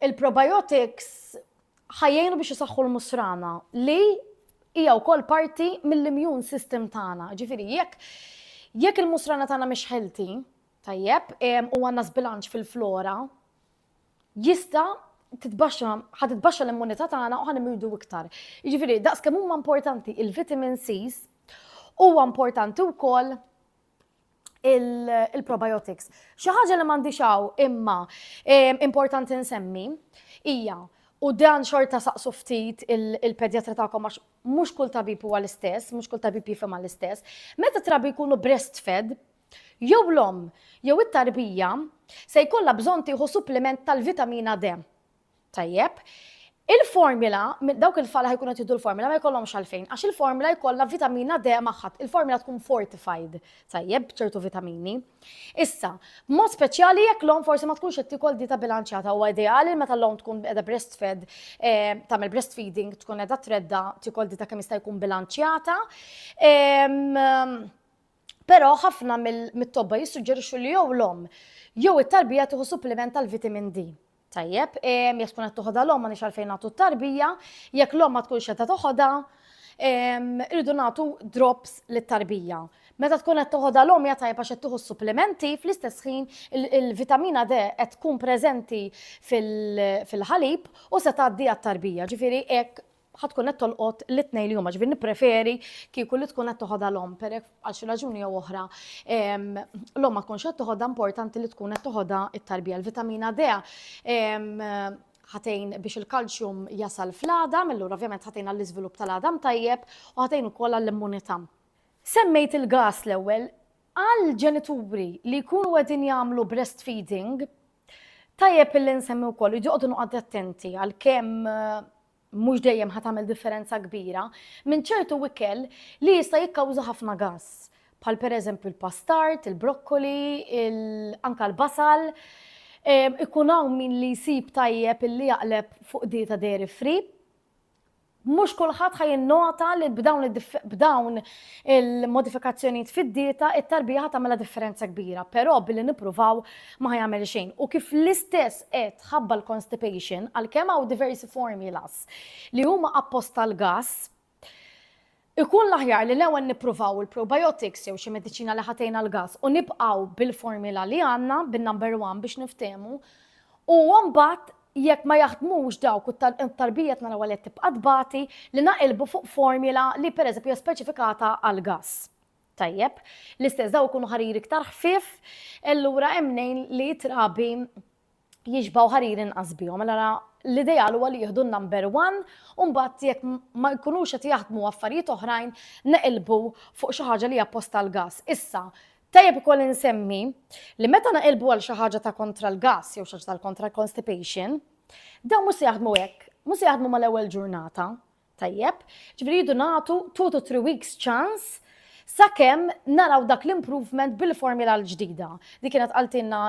il-probiotics ħajjejnu biex isaħħu l-musrana li hija wkoll parti mill-immune system tagħna. Ġifieri jekk jekk il-musrana tagħna mhix healthy, tajjeb, u għandna sbilanċ fil-flora, jista' titbaxxa, ħad titbaxxa l-immunità tagħna u ħan immidu iktar. Jiġifieri daqs kemm huma importanti il-vitamin C's, huwa importanti wkoll il-probiotics. Xi ħaġa li m'għandix hawn imma importanti nsemmi hija u dan xorta saqsu ftit il-pedjatra tagħkom għax mhux kull tabib huwa l-istess, mhux kull tabib jifhem l-istess. Meta trabi jkunu breastfed, jew l-om, jew it-tarbija, se jkollha bżonn tieħu suppliment tal-vitamina D. Tajjeb. Il-formula, dawk il-fala ħajkun qed jiddu l-formula ma jkollhomx għalfejn, għax il-formula jkollha vitamina D magħha. Il-formula tkun fortified, tajjeb, b'ċertu vitamini. Issa, mod speċjali jekk l-om forsi ma tkunx qed tikol dieta bilanċjata huwa ideali meta l-om tkun qiegħda breastfed, eh, tagħmel breastfeeding, tkun qiegħda tredda tikol dieta kemm jista' jkun bilanċjata. Però ħafna mit-tobba jissuġġerixxu li jew l-om jew it-tarbija tieħu supplement tal-vitamin D. Tajjeb, ehm, jekk tkun qed toħodha l-omm m'għandix għalfejn nagħtu t-tarbija, jekk l-omm ma tkunx qed toħodha, ehm, irridu nagħtu drops lit-tarbija. Meta tkun qed toħodha l-omm hija tajjeb għax qed tieħu supplementi fl-istess ħin il-vitamina D qed tkun preżenti fil-ħalib u se tgħaddi għat-tarbija. Ġifieri hekk ħa tkun qed tolqot l-itnej li huma, ġifieri nippreferi kieku li tkun qed toħodha l-omm perek għal xi raġuni jew oħra. L-omm ma tkunx qed toħodha importanti li tkun qed toħodha it-tarbija. L-vitamina D ħatejn biex il-kalċjum jasal fl-għadam, illura ovvjament ħatejn għall-iżvilupp tal-għadam tajjeb u ħatejn ukoll għall-immunità. Semmejt il-gas l-ewwel, għal ġenituri li jkunu qegħdin jagħmlu breastfeeding, tajjeb illi nsemmi wkoll, joqogħdu noqgħod attenti għal kemm mhux dejjem ħa tagħmel differenza kbira, minn ċertu ikel li jista' jikkawża ħafna gass, bħal pereżempju l-pastard, il-brokkoli, anke l-basal. Ikun hawn min li jsib tajjeb illi jaqleb fuq dieta dairy free. Mhux kulħadd ħa jinnota li b'dawn il-modifikazzjonijiet fid-dieta it-tarbija ħa tagħmilha differenza kbira, però billi nippruvaw ma ħa jagħmel xejn u kif l-istess qed ħabba l-constipation għalkemm hawn diversi formulas li huma apposta għall-gas, ikun l-aħjar li l-ewwel nippruvaw il-probiotics jew xi mediċina li ħa tgħin għall-gas u nibqgħu bil-formula li għandna, bin-number one biex niftehmu, u mbagħad jekk ma jaħdmux dawk u t-tarbija tna l-ewwel qed tibqa' tbati li naqilbu fuq formula li pereżempju hija speċifikata għall-gas. Tajjeb, l-istess daw ikunu ħarir iktar ħfief, allura hemm mnejn li t-trabi jixbaw ħarir inqas bihom. Allora l-ideal huwa li jieħdu n-number one u mbagħad jekk ma jkunux qed jaħdmu affarijiet oħrajn neqilbu fuq xi ħaġa li hija post tal-gass. Issa, tajjeb ukoll insemmi li meta neqilbu għal xi ħaġa ta' kontra l-gass jew xi ħaġa tal-kontra l-constipation, dawn mhux se jaħdmu hekk, mhux se jaħdmu mal-ewwel ġurnata, Tajjeb, ġifieri rridu nagħtu two to three weeks ċans sakemm naraw dak l-improvement bil-formula l-ġdida. Di kienet qaltilna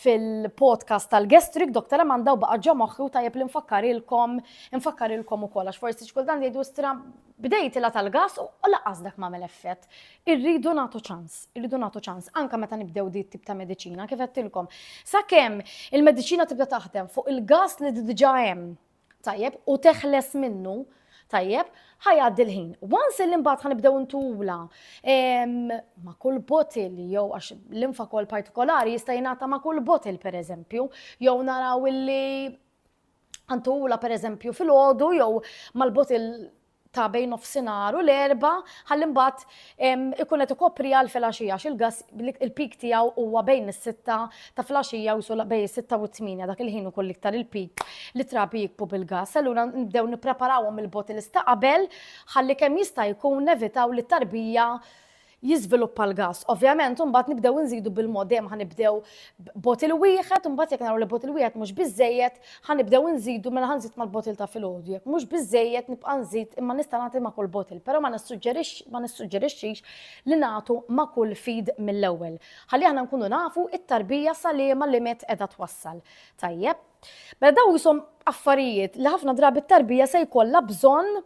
fil-podcast tal-gastric Dr. Amanda u baqa' ġo moħħi u tajjeb li nfakkarilkom nfakkarilkom ukoll għax forsi xkultant jgħidu stra bdejt ilha tal-gas u laqas dak m'għamel effett. Irridu nagħtu ċans, irridu nagħtu ċans anke meta nibdew di tip ta' mediċina kif qedtilkom. Sakemm il-mediċina tibda taħdem fuq il-gas li diġà hemm tajjeb, u teħles minnu, tajjeb, ħajgħaddi l-ħin. Once li mbagħad ħanibdew ntula ma' kull botil jew għax l-infa kol partikolari jista' jingħata ma' kull botil pereżempju, jew naraw illi ħantula pereżempju fil-ħodu jew mal-botil ta' bejn nofsinhar u l-Erbgħa ħalli mbagħad ikun qed ikopriha għal filgħaxija għax il-gass il-peak tiegħu huwa bejn is-sitta ta' filgħaxija u bejn is-sitta u t-tmienja dak il-ħin ikun l-iktar il-peak li trabi jikbu bil-gass. Allura nibdew nippreparawhom il-bottles ta' qabel ħalli kemm jista' jkun nevitaw li t-tarbija jiżviluppa l-gass. Ovvjament imbagħad nibdew inżidu bil-mod dejjem ħa nibdew botil wieħed, imbagħad jekk naraw li botil wieħed mhux biżejjed, ħa nibdew inżidu mela ħa nżid mal-botil ta' filgħodu. Jekk mhux biżejjed nibqa' nżid imma nista' nagħti ma' kull botil, però ma nissuġġerixxix li nagħtu ma' kull feed mill-ewwel. Ħalli aħna nkunu nafu t-tarbija sa liema limit qiegħda twassal. Tajjeb. Mela dawn qishom affarijiet li ħafna drabi t-tarbija se jkollha bżonn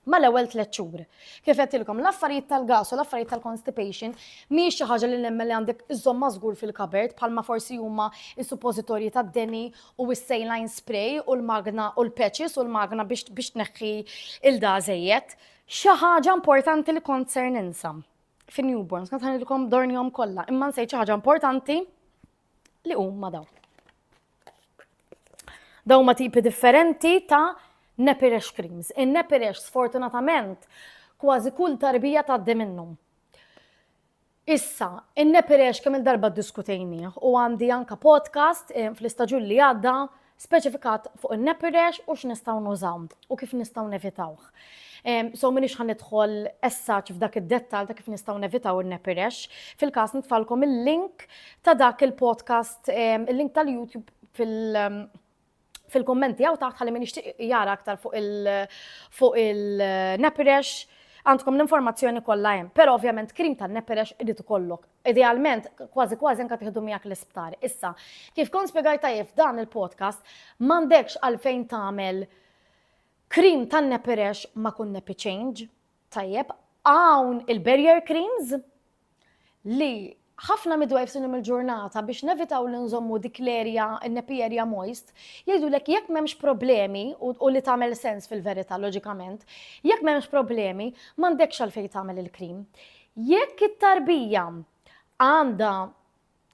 mal-ewwel tliet xhur. Kif għedtilkom, l-affarijiet tal-gas u l-affarijiet tal-constipation mhijiex xi ħaġa li nemmen li għandek iżżommha żgur fil-kabert bħalma forsi huma s-suppożitorji tad-deni u s-saline spray u l-magna u l-patches u l-magna biex tneħħi ilda żejjed. Xi ħaġa importanti li kont ser ninsa fin-newborns, kont ħanidilkom dornihom kollha, imma nsejt xi ħaġa importanti li huma dawn. Dawn huma tipi differenti ta' nappy rash creams. In-nappy rash sfortunatament kważi kull tarbija tgħaddi minnhom. Issa, in-nappy rash kemm il-darba ddiskutejnieh u għandi anka podcast eh, fl-istaġun li għadda speċifikat fuq in-nappy rash u x'nistgħu nużaw u kif nistgħu nevitawh. So minix ħan nidħol essaċ f'dak id-dettal ta' kif nistaw nevitaw il-nepirex. Fil-kas nitfalkom il-link ta' dak il-podcast, il-link tal-YouTube fil- fil-kommenti għaw taħt ħalli minix jara aktar fuq il-nepirex għandkom l-informazzjoni kollha hemm. Però ovvjament krim ta' neperex irid ikollok. Idealment kważi kważi anke tieħdu miegħek l-isptar. Issa, kif kont spjegajt tajjeb dan il-podcast, m'għandekx għalfejn tagħmel Cream tan nepirex ma kun nepi change. Tajjeb, hawn il-barrier creams li ħafna midwives illum il-ġurnata biex nevitaw li nżommu dik l-erja, n-nepi erja moist, jgħidulek jekk m'hemmx problemi u li tagħmel sens fil-verità loġikament, jekk m'hemmx problemi m'għandekx għalfejn tagħmel il-cream. Jekk it-tarbija għandha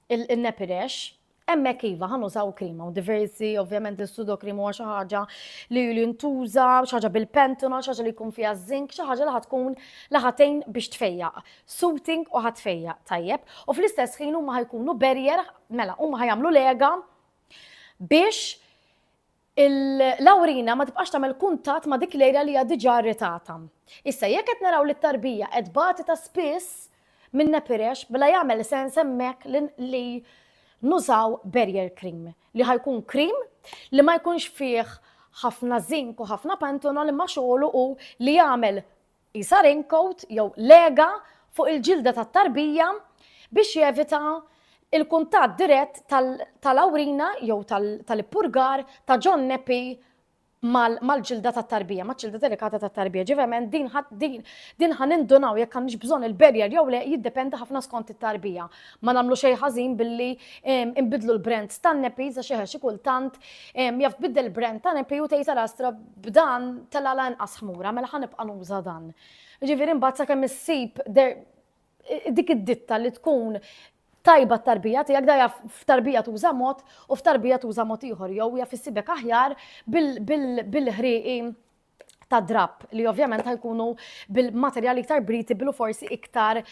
il-nepirex, hemmhekk iva ħa nużaw krima u diversi, ovvjament is-sudokrim huwa xi ħaġa li jintuża, xi ħaġa bil-pentuna, xi ħaġa li jkun fiha żink, xi ħaġa li ħad tkun li ħatejn biex tfejjaq. Soothing u ħad tfejjaq tajjeb u fl-istess ħin huma ħajkunu barrier, mela huma ħajamlu lega biex il-lawrina ma tibqax tagħmel kuntatt ma' dik l-ejra li hija diġà rritata. Issa jekk qed naraw li t-tarbija qed tbati ta' spiss minn nepirex mela jagħmel sens hemmhekk li nużaw barrier cream li ħa jkun cream li ma jkunx fih ħafna zink u ħafna pantenol imma xogħlu hu li jagħmel qisha raincoat jew lega fuq il-ġilda tat-tarbija biex jevita l-kuntatt dirett tal-awrina jew tal-ippurgar ta' John Nappy mal-ġilda tat-tarbija, maċ-ċilda delikata tat-tarbija. Ġivement, din ħa nindunaw jekk għandniex bżonn il-barrier jew le jiddependi ħafna skont it-tarbija. Ma nagħmlu xejn ħażin billi nbiddlu l-brands tan-nappies għax eħe xi kultant jaf tbiddel il-brand ta' nappy u tgħid ara astra b'dan tela' la inqas ħmura, mela ħa nibqa' nuża dan. Jiġifieri imbagħad sakemm issib dik id-ditta li tkun tajba t-tarbija tiegħek da jaf f'tarbija tuża mod u f'tarbija tuża mod ieħor jew jaf issibek aħjar bil-ħrieqi ta' drab li ovvjament ħajkunu bil-materjali iktar breathable u forsi iktar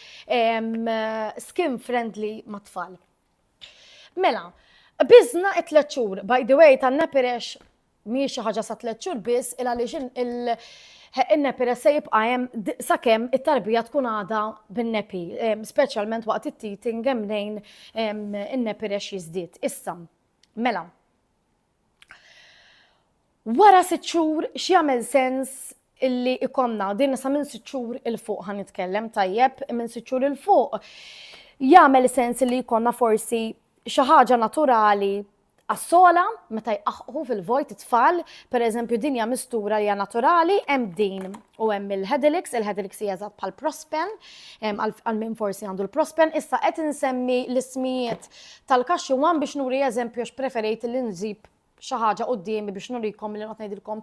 skin friendly mat-tfal. Mela, bizna it-tlet xhur, by the way, tan-nepirex mhijiex xi ħaġa sa tliet xhur biss il għaliex in-nepiles se jibqa' hemm sakemm it-tarbija tkun għadha bin-nepi, speċjalment waqt it-teething hemm mnejn in-nepiles jiżdied. Issa, mela. Wara sitt xhur x'jagħmel sens illi ikonna din sa minn sitt xhur il fuq ħan nitkellem tajjeb minn sitt xhur il fuq jagħmel sens li jkollna forsi xi ħaġa naturali Għas-sogħla, meta jqaħqħu fil-vojt it-tfal, pereżempju din hija mistura li hija naturali, hemm din u hemm il-Hedilix, il-Hedilix hija eżatt bħal prospen, għal min forsi għandu l-prospen, issa qed insemmi l-ismijiet tal-kaxxi wan biex nuri eżempju għax preferejt li nżib xi ħaġa qudiemi biex nurikom li noqgħod ngħidilkom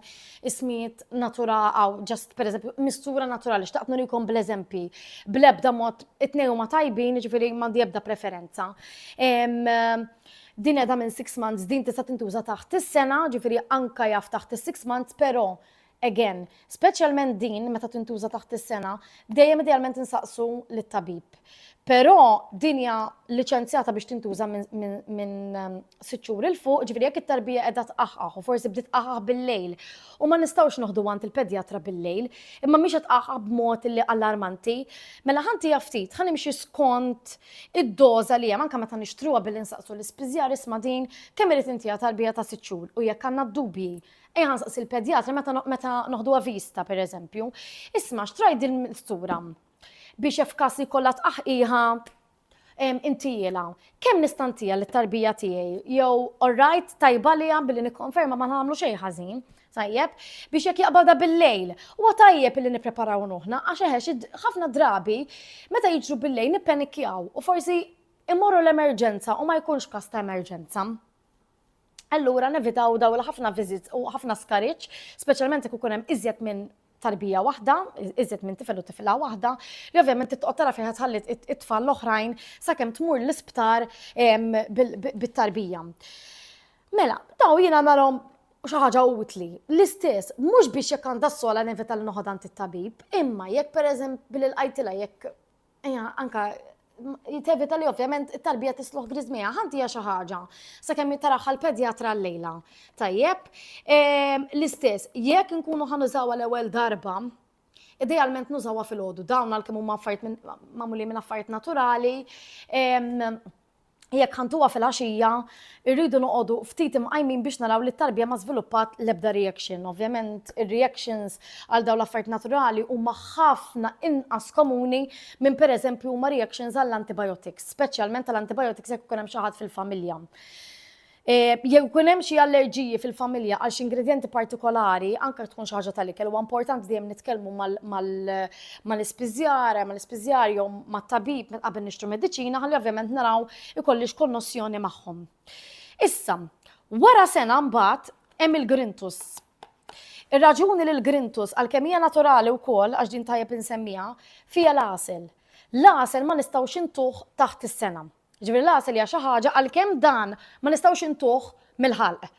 ismijiet natura għaw ġast pereżempju mistura naturali xtaqt nurikom bl-eżempji bl-ebda mod it-tnejn huma tajbin jiġifieri m'għandi ebda preferenza. Din qiegħda minn six months, din tista' tintuża taħt is-sena, ġifieri anke jaf taħt is-six months, però again, speċjalment din meta tintuża taħt is-sena, dejjem idealment insaqsu lit-tabib. Però din hija liċenzjata biex tintuża minn sitt xhur il fuq, ġifieri jekk it-tarbija qiegħda tqaħħaħ u forsi bdiet tqaħħaħ bil-lejl u ma nistgħux noħdu għand il-pedjatra bil-lejl, imma mhix qed tqaħħaħ b'mod li allarmanti, mela ħa ntiha ftit, ħa nimxi skont Id-doża li hemm, anke meta nixtruha billi nsaqsu l-ispiżjar, isma' din, kemm irid intiha tarbija ta' sitt xhur? U jekk għandna d-dubji, ejja nsaqsi l-pedjatra meta meta noħduha vista, per eżempju, isma' xtrajt din l-mistura biex jekk f'każ li jkollha tqaħqiħa intihielha. Kemm nista' ntiha lit-tarbija tiegħi? Jew, orrajt, tajba għaliha billi nikkonferma ma nagħmlu xejn ħażin. Tajjeb, biex jekk jaqbada bil-lejl. Huwa tajjeb li nippreparaw ruħna għax eħex ħafna drabi meta jiġru bil-lejl nippenikjaw u forsi immorru l-emerġenza u ma jkunx każ ta' emerġenza. Allura nevitaw daw l-ħafna viżit u ħafna skariċ, speċjalment jekk ikun hemm iżjed minn tarbija waħda, iżjed minn tifel u tifla waħda, li ovvjament titqgħod tara fejn ħallit it-tfal l-oħrajn sakemm tmur l-isptar bit-tarbija. Mela, daw jiena nagħmilhom xi ħaġa utli. L-istess, mhux biex jekk għandha s-sola nevita li noħodha għand it-tabib, imma jekk pereżempju billi lqajtilha jekk Ejja, anka jitevita li ovvjament it-tarbija tisluħ grizmija, ħanti hija xi ħaġa. Sakemm taraħħa l-pedjatra l-lejla. Tajjeb, ehm, l-istess, jekk nkunu ħanużaw għal ewwel darba, idealment nużawha fil-ħodu, dawn għal kemm huma affarijiet magħmuli minn affarijiet naturali, ehm, Jekk ħantuha fil-għaxija, irridu noqogħdu ftit imqajmin biex naraw li t-tarbija ma żviluppat l-ebda reaction. Ovvjament, ir-reactions għal dawn l-affarijiet naturali huma ħafna inqas komuni minn pereżempju huma reactions għall-antibiotics, speċjalment għall-antibiotics jekk ikun hemm xi ħadd fil-familja. Jekk ikun hemm xi allerġiji fil-familja għal xi ingredjenti partikolari, anke jekk tkun xi ħaġa tal-ikel, huwa importanti dejjem nitkellmu mal-ispiżjar, mal-ispiżjar jew mat-tabib meta qabel nixtru mediċina ħalli ovvjament naraw ikollix konnossjoni magħhom. Issa, wara sena mbagħad hemm il-grintus. Ir-raġuni li l-grintus għalkemm hija naturali wkoll għax din tajjeb insemmiha, fiha l-għasel. L-għasel ma nistgħux intuh taħt is-sena. Jiġifieri l-għasel hija xi ħaġa għalkemm dan ma nistgħux intuh mill-ħalq.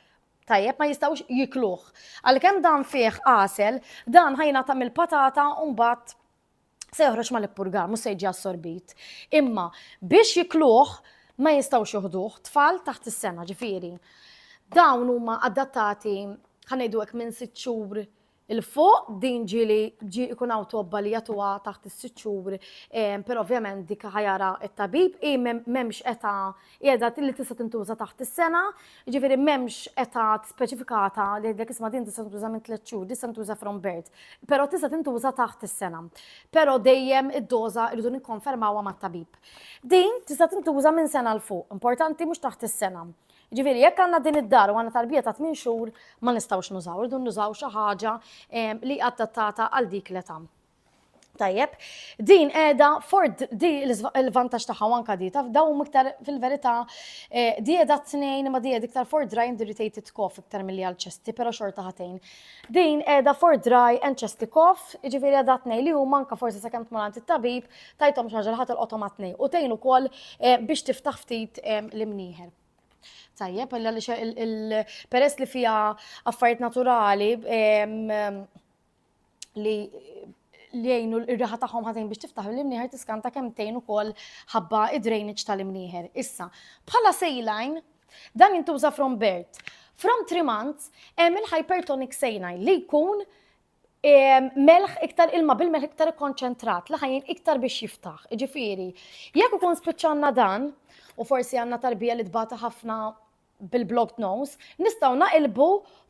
Tajjeb, ma jistgħux jikluh. Għalkemm dan fih għasel, dan ħa jingħata mill-patata u mbagħad se joħroġ mal-ippurgar, mhux se jiġi assorbit. Imma biex jikluh ma jistgħux joħduh tfal taħt is-sena, ġifieri. Dawn huma adattati ħa ngħidu hekk minn sitt xhur 'l fuq, din ġieli ġie jkun hawn tobba li jagħtuha taħt is-sitt xhur, però ovvjament dik ħa jara t-tabib, hi m'hemmx età, hi età li tista' tintuża taħt is-sena, jiġifieri m'hemmx età speċifikata li jgħidlek isma' din tista' tintuża minn tliet xhur, din tista' tintuża from birth, però tista' tintuża taħt is-sena. Però dejjem id-doża rridu nikkonfermawha mat-tabib. Din tista' tintuża minn sena 'l fuq, importanti mhux taħt is-sena. Jiġifieri jekk għandna din id-dar u għandna tarbija ta' tmien xhur ma nistgħux nużaw, irdu nużaw xi ħaġa li adattata għal dik l-età. Tajjeb, din qiegħda ford di l-vantaġġ tagħha anka di taf daw iktar fil-verità eh, di qiegħda tnejn ma di qiegħda iktar for dry and irritated cough iktar milli għal ċesti, però xorta ħatejn. Din qiegħda for dry and ċesti cough, jiġifieri qiegħda tnejn li huma anka forsi sakemm tmur għand it-tabib, Tajthom xi ħaġa li ħa tolqothom għat-tnejn u tgħin ukoll biex tiftaħ ftit l-imnieħer. Tajjeb, peress li fija affarijiet naturali li li jgħinu r-riħa tagħhom ħażin biex tiftaħ l-imnieħer tiskanta kemm tgħin ukoll ħabba id-drainage tal-imnieħer. Issa, bħala sejlajn, dan jintuża from birth. From three months, hemm il-hypertonic sejlajn li jkun melħ iktar ilma bil-melħ iktar ikkonċentrat li ħajjin iktar biex jiftaħ. Ġifieri, jekk ikun spiċċanna dan, u forsi għandna tarbija li tbata ħafna bil-blocked nose, nistgħu naqilbu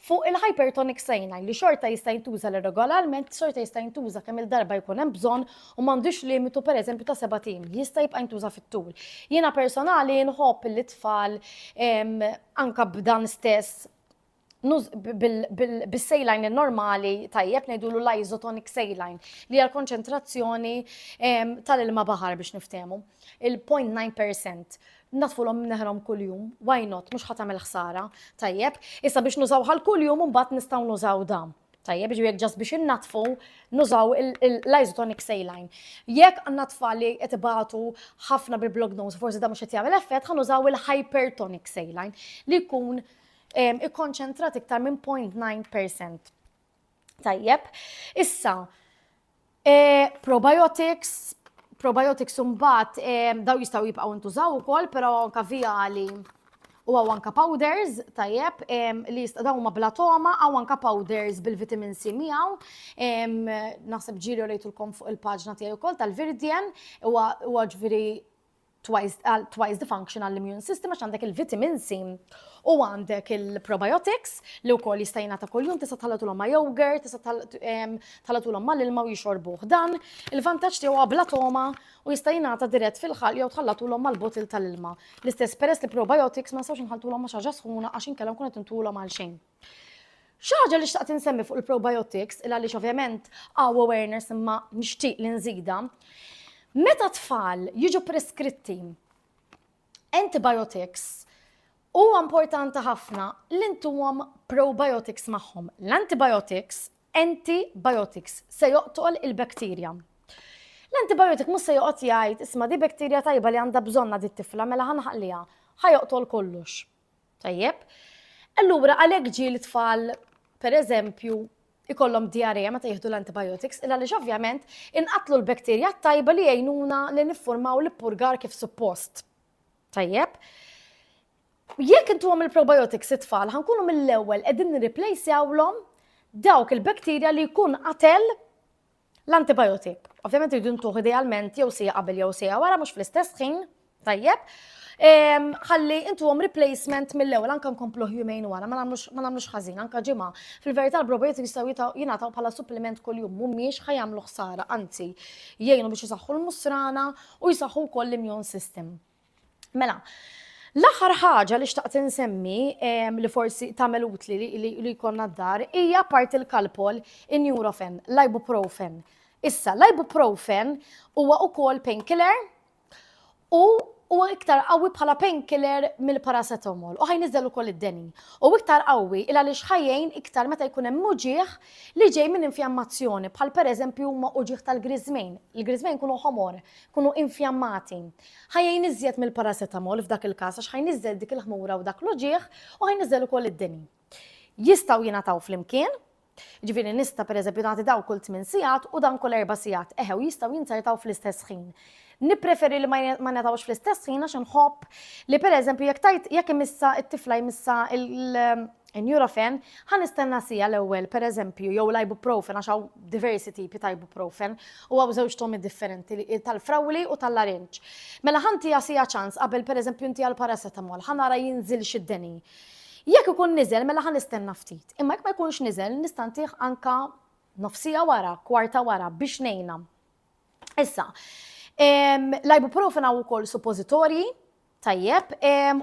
fuq il-hypertonic sejna li xorta jista' jintuża l regolarment xorta jista' jintuża kemm il-darba jkun hemm bżonn u m'għandux limitu pereżempju ta' seba' tim, jista' jibqa' jintuża fit-tul. Jiena personali nħobb li tfal anka b'dan stess bis-sejlajn normali tajjeb ngħidulu l-isotonic sejlajn li hija l-konċentrazzjoni ehm, tal-ilma baħar biex niftehmu. Il-0.9% natfulhom neħrom kuljum, why not, mhux ħadd tagħmel ħsara, tajjeb. Issa biex nużaw ħal kuljum mbagħad nistgħu nużaw dam. Tajjeb, ġifieri ġast biex innatfu nużaw l-isotonic saline. Jekk għandna tfal li qed ibatu ħafna bil-blog nose, forsi da mhux qed jagħmel effett, ħanużaw il-hypertonic saline li jkun ikkonċentrat iktar minn 0.9%. Tajjeb, issa, eh, probiotics, probiotics umbat eh, daw jistaw jibqaw intużaw ukoll, però anka viali u għaw anka powders, tajjeb, eh, li jista' daw ma blatoma, għaw anka powders bil-vitamin C miegħu, naħseb ġiri u lejtulkom fuq il-paġna tiegħi wkoll tal-Virdien, huwa ġviri twice, uh, twice the function għall-immune system għax għandek il-vitamin C u għandek il-probiotics li wkoll jista' jingħata kuljum tista' tħallatulhom ma' yogurt, tista' tħallatulhom ma' l-ilma u jixorbuh dan. Il-vantaġġ tiegħu għabla toma u jista' jingħata dirett fil-ħalq jew tħallatulhom mal-botil tal-ilma. L-istess peress li probiotics ma nistgħux nħaltulhom ma' xaġa sħuna għax inkellhom kun qed intulhom għal xejn. Xi ħaġa li xtaqt insemmi fuq il-probiotics, il għaliex ovvjament għaw awareness imma nixtieq li nżida. Meta tfal jiġu preskritti antibiotics, huwa importanti ħafna li ntuhom probiotics magħhom. L-antibiotics, antibiotics, se joqtol il-bakterja. L-antibiotic mhux se joqgħod jgħid isma' di bakterja tajba li għandha bżonna di tifla mela ħanħalliha, ħajoqtol kollox. Tajjeb. Allura għalhekk ġie li tfal pereżempju ikollhom diarrea meta jieħdu l-antibiotics, illa li ovvjament inqatlu l-bakterja tajba li jgħinuna li niffurmaw l-purgar kif suppost. Tajjeb. Jekk intu għam il-probiotics it-tfal, ħankunu mill-ewwel qegħdin nirreplejsjawlhom dawk il-bakterja li jkun qatel L-antibajotik, ovvjament irridu ntuħ idealment jew sija qabel jew sija wara mhux fl-istess ħin, tajjeb. Ehm, ħalli intu għom replacement mill-ewel, anka nkomplu jumejn wara, ma namlux ħazin, anka ġimma. Fil-verita l-brobiet jistaw jinataw bħala supplement kol jum, mummiex ħajamlu ħsara, anzi, jgħinu biex jisaxħu l-musrana u jisaxħu kol l-immune system. Mela, l-aħħar ħaġa li xtaqt insemmi em, li forsi tagħmel utli li, li, li jkollna d-dar hija apparti l-kalpol in-Nurofen, l-ibuprofen. Issa, l-ibuprofen huwa ukoll painkiller u huwa iktar qawwi bħala painkiller mill-paracetamol u ħajniżel ukoll id-deni. U iktar qawwi il għaliex ħajjejn iktar meta jkun hemm uġieħ li ġej minn infjammazzjoni bħal pereżempju huma uġieħ tal-griżmejn. Il-griżmejn kunu ħomor tkunu infjammati. Ħa jgħin iżjed mill-paracetamol f'dak il-każ għax ħa jniżżel dik il-ħmura u dak l-uġigħ u ħa jniżżel ukoll id-deni. Jistgħu jingħataw flimkien, jiġifieri nista' pereżempju nagħti dawn kull tmien sigħat u dan kull erba' sigħat, eħe u jistgħu jinzertaw fl-istess ħin. Nippreferi li ma jingħatawx fl-istess ħin għax inħobb li pereżempju jekk tajt jekk imissha t-tifla jmissha l In Nurofen, ħa nistenna siegħa l-ewwel, pereżempju, jew l-ibuprofen għax hawn diversi tipi ta' ibuprofen u hawn żewġ tomi differenti, tal-frawli u tal-larinġ. Mela ħa ntiha siegħa ċans qabel pereżempju ntiha l-paracetamol, ħa nara jinżilx id-deni. Jekk ikun niżel mela ħa nistenna ftit. Imma jekk ma jkunx niżel nista' ntih anke nofs siegħa wara, kwarta wara biex ngħinha. Issa, l-ibuprofen hawn ukoll suppożitorji, tajjeb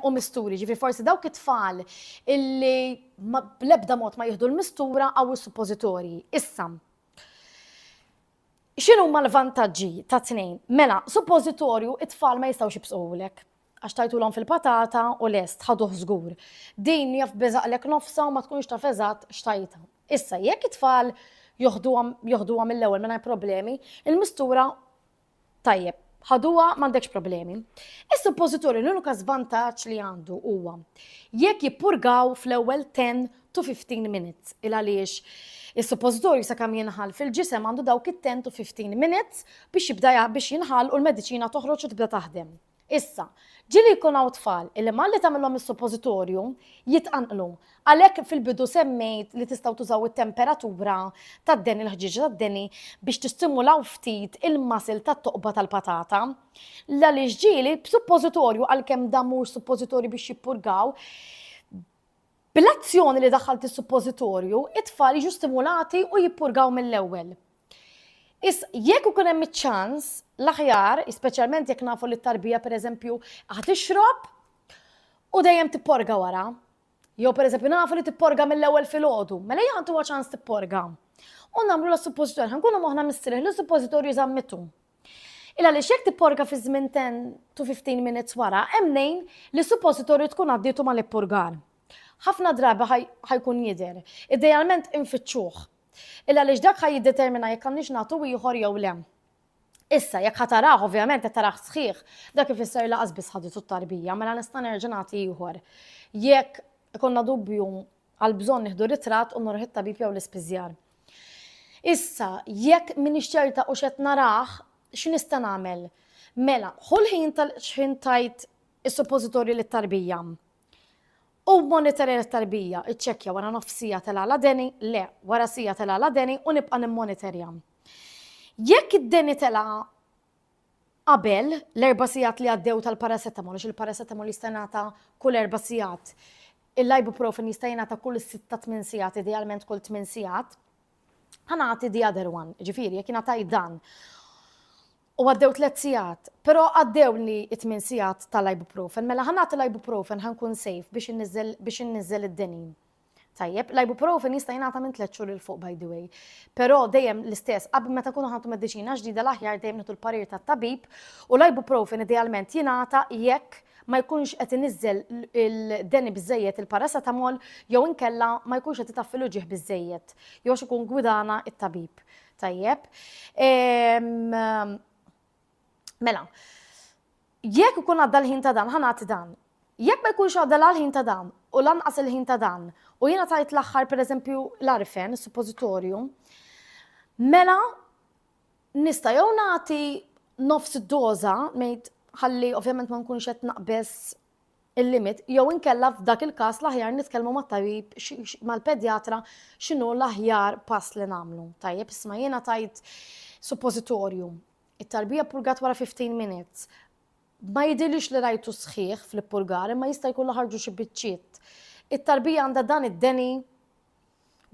u misturi, ġifri forsi dawk it-tfal illi bl-ebda mod ma jieħdu l-mistura għaw il-suppożitorji. Issa, xinu ma l-vantagġi ta' tnejn? Mela, suppożitorju it-tfal ma jistawx jibsuwlek għax tajtu l fil-patata u lest, ħaduħ zgur. Din jaf bezaqlek nofsa u ma tkunx ta' fezat xtajta. Issa, jekk it-tfal joħdu għam mill-ewel minna problemi, il-mistura Tajjeb, ħaduha m'għandekx problemi. Is-suppożitorju l-unika żvantaġġ li għandu huwa jekk jippurgaw fl-ewwel 10 to 15 minutes il għaliex Is-suppożitorju sakemm jinħal fil-ġisem għandu dawk it-10 to 15 minutes biex jibda biex jinħal u l-mediċina toħroġ u tibda taħdem. Issa, ġieli jkun hawn tfal illi malli tagħmilhom is-suppożitorju, jitqanqlu. Għalhekk fil-bidu semmejt li tistgħu tużaw it-temperatura tad-deni, l-ħġieġa tad-deni, biex tistimulaw ftit il-muscle tat-toqba tal-patata. L għaliex ġieli b'suppożitorju, għalkemm dan mhuwiex suppożitorju biex jippurgaw, Bil-azzjoni li daħħalt is-suppożitorju, it-tfal jiġu stimulati u jippurgaw mill-ewwel. Is jekk ikun hemm iċ-ċans, l-aħjar, speċjalment jekk nafu li t-tarbija pereżempju ħad ixrob u dejjem tipporga wara. Jew pereżempju nafu li tipporga mill-ewwel filgħodu, mela hija ħantuha ċans tipporga. U nagħmlu la suppożitorju, ħankunu moħħna mistrieħ li suppożitorju żammitu. Il għaliex jekk tipporga fi żmien 10 to 15 minutes wara, hemm nejn li suppositorju tkun għaddietu mal-ippurgar. Ħafna drabi ħajkun jidher. Idealment infittxuh. Il għaliex dak ħaj jiddetermina jekk għandniex nagħtu ieħor jew le. Issa, jekk ħatarah, ovvjament qed tarah sħiħ, dak ifisser laqas biss ħaditu t-tarbija, mela nista' nerġa' nagħti ieħor. Jekk ikonna dubju Għal bżonn nieħdu ritratt u nurih it-tabib jew l-ispiżjar. Issa, jekk m'iniex ċerta u x'qed narah, x'nista' nagħmel? Mela, ħu l-ħin tal xħin tajt is-suppożitorju lit-tarbija. U monitorja lit-tarbija, iċċekkja wara nofs siegħa telgħa l-adeni, le, wara siegħa telgħa l-adeni u nibqa' nimmonitorja. Jekk id-deni telgħa qabel l-erba' sigħat li għaddew tal-paracetamol, għax il-paracetamol jista' jingħata kull erba' sigħat. Il-ibuprofen jista' jingħata kull sitta tmien sigħat, idealment kull tmien sigħat. Ħanati the other one, ġifieri jekk ingħataj dan. U għaddew tliet sigħat, però għaddew li t-tmien sigħat tal-ibuprofen, mela ħanati l-ibuprofen ħankun sejf biex inniżel id-denin. Tajjeb, l-ibuprofen jista' jingħata minn tliet xhur il fuq by the way. Però dejjem l-istess, qabel meta kunu ħantu mediċina ġdida l-aħjar dejjem nitu l-parir tat-tabib u l-ibuprofen idealment jingħata jekk ma jkunx qed iniżżel il-deni biżejjed il-paracetamol jew inkella ma jkunx qed itaffilu ġieħ biżejjed jew ikun gwidana it-tabib. Tajjeb. Ehm, Mela, jekk ikun għadda l-ħin ta' dan, ħanati dan. Jekk ma jkunx għadda la l-ħin ta' dan u lanqas il-ħin ta' dan, u jiena tajt l-aħħar pereżempju l-arfen, suppożitorju, mela nista' jew nagħti nofs id-doża, ngħid ħalli ovvjament ma nkunx qed naqbes il-limit, jew inkella f'dak il-każ l-aħjar nitkellmu mat-tabib mal-pedjatra x'inhu l-aħjar pass li nagħmlu. Tajjeb, isma' jiena tajt suppożitorju It-tarbija ppurgat wara 15 minutes. Ma jidhirlix li rajtu sħiħ fl-ippurgar imma jista' jkun li ħarġu xi biċċiet. It-tarbija għandha dan id-deni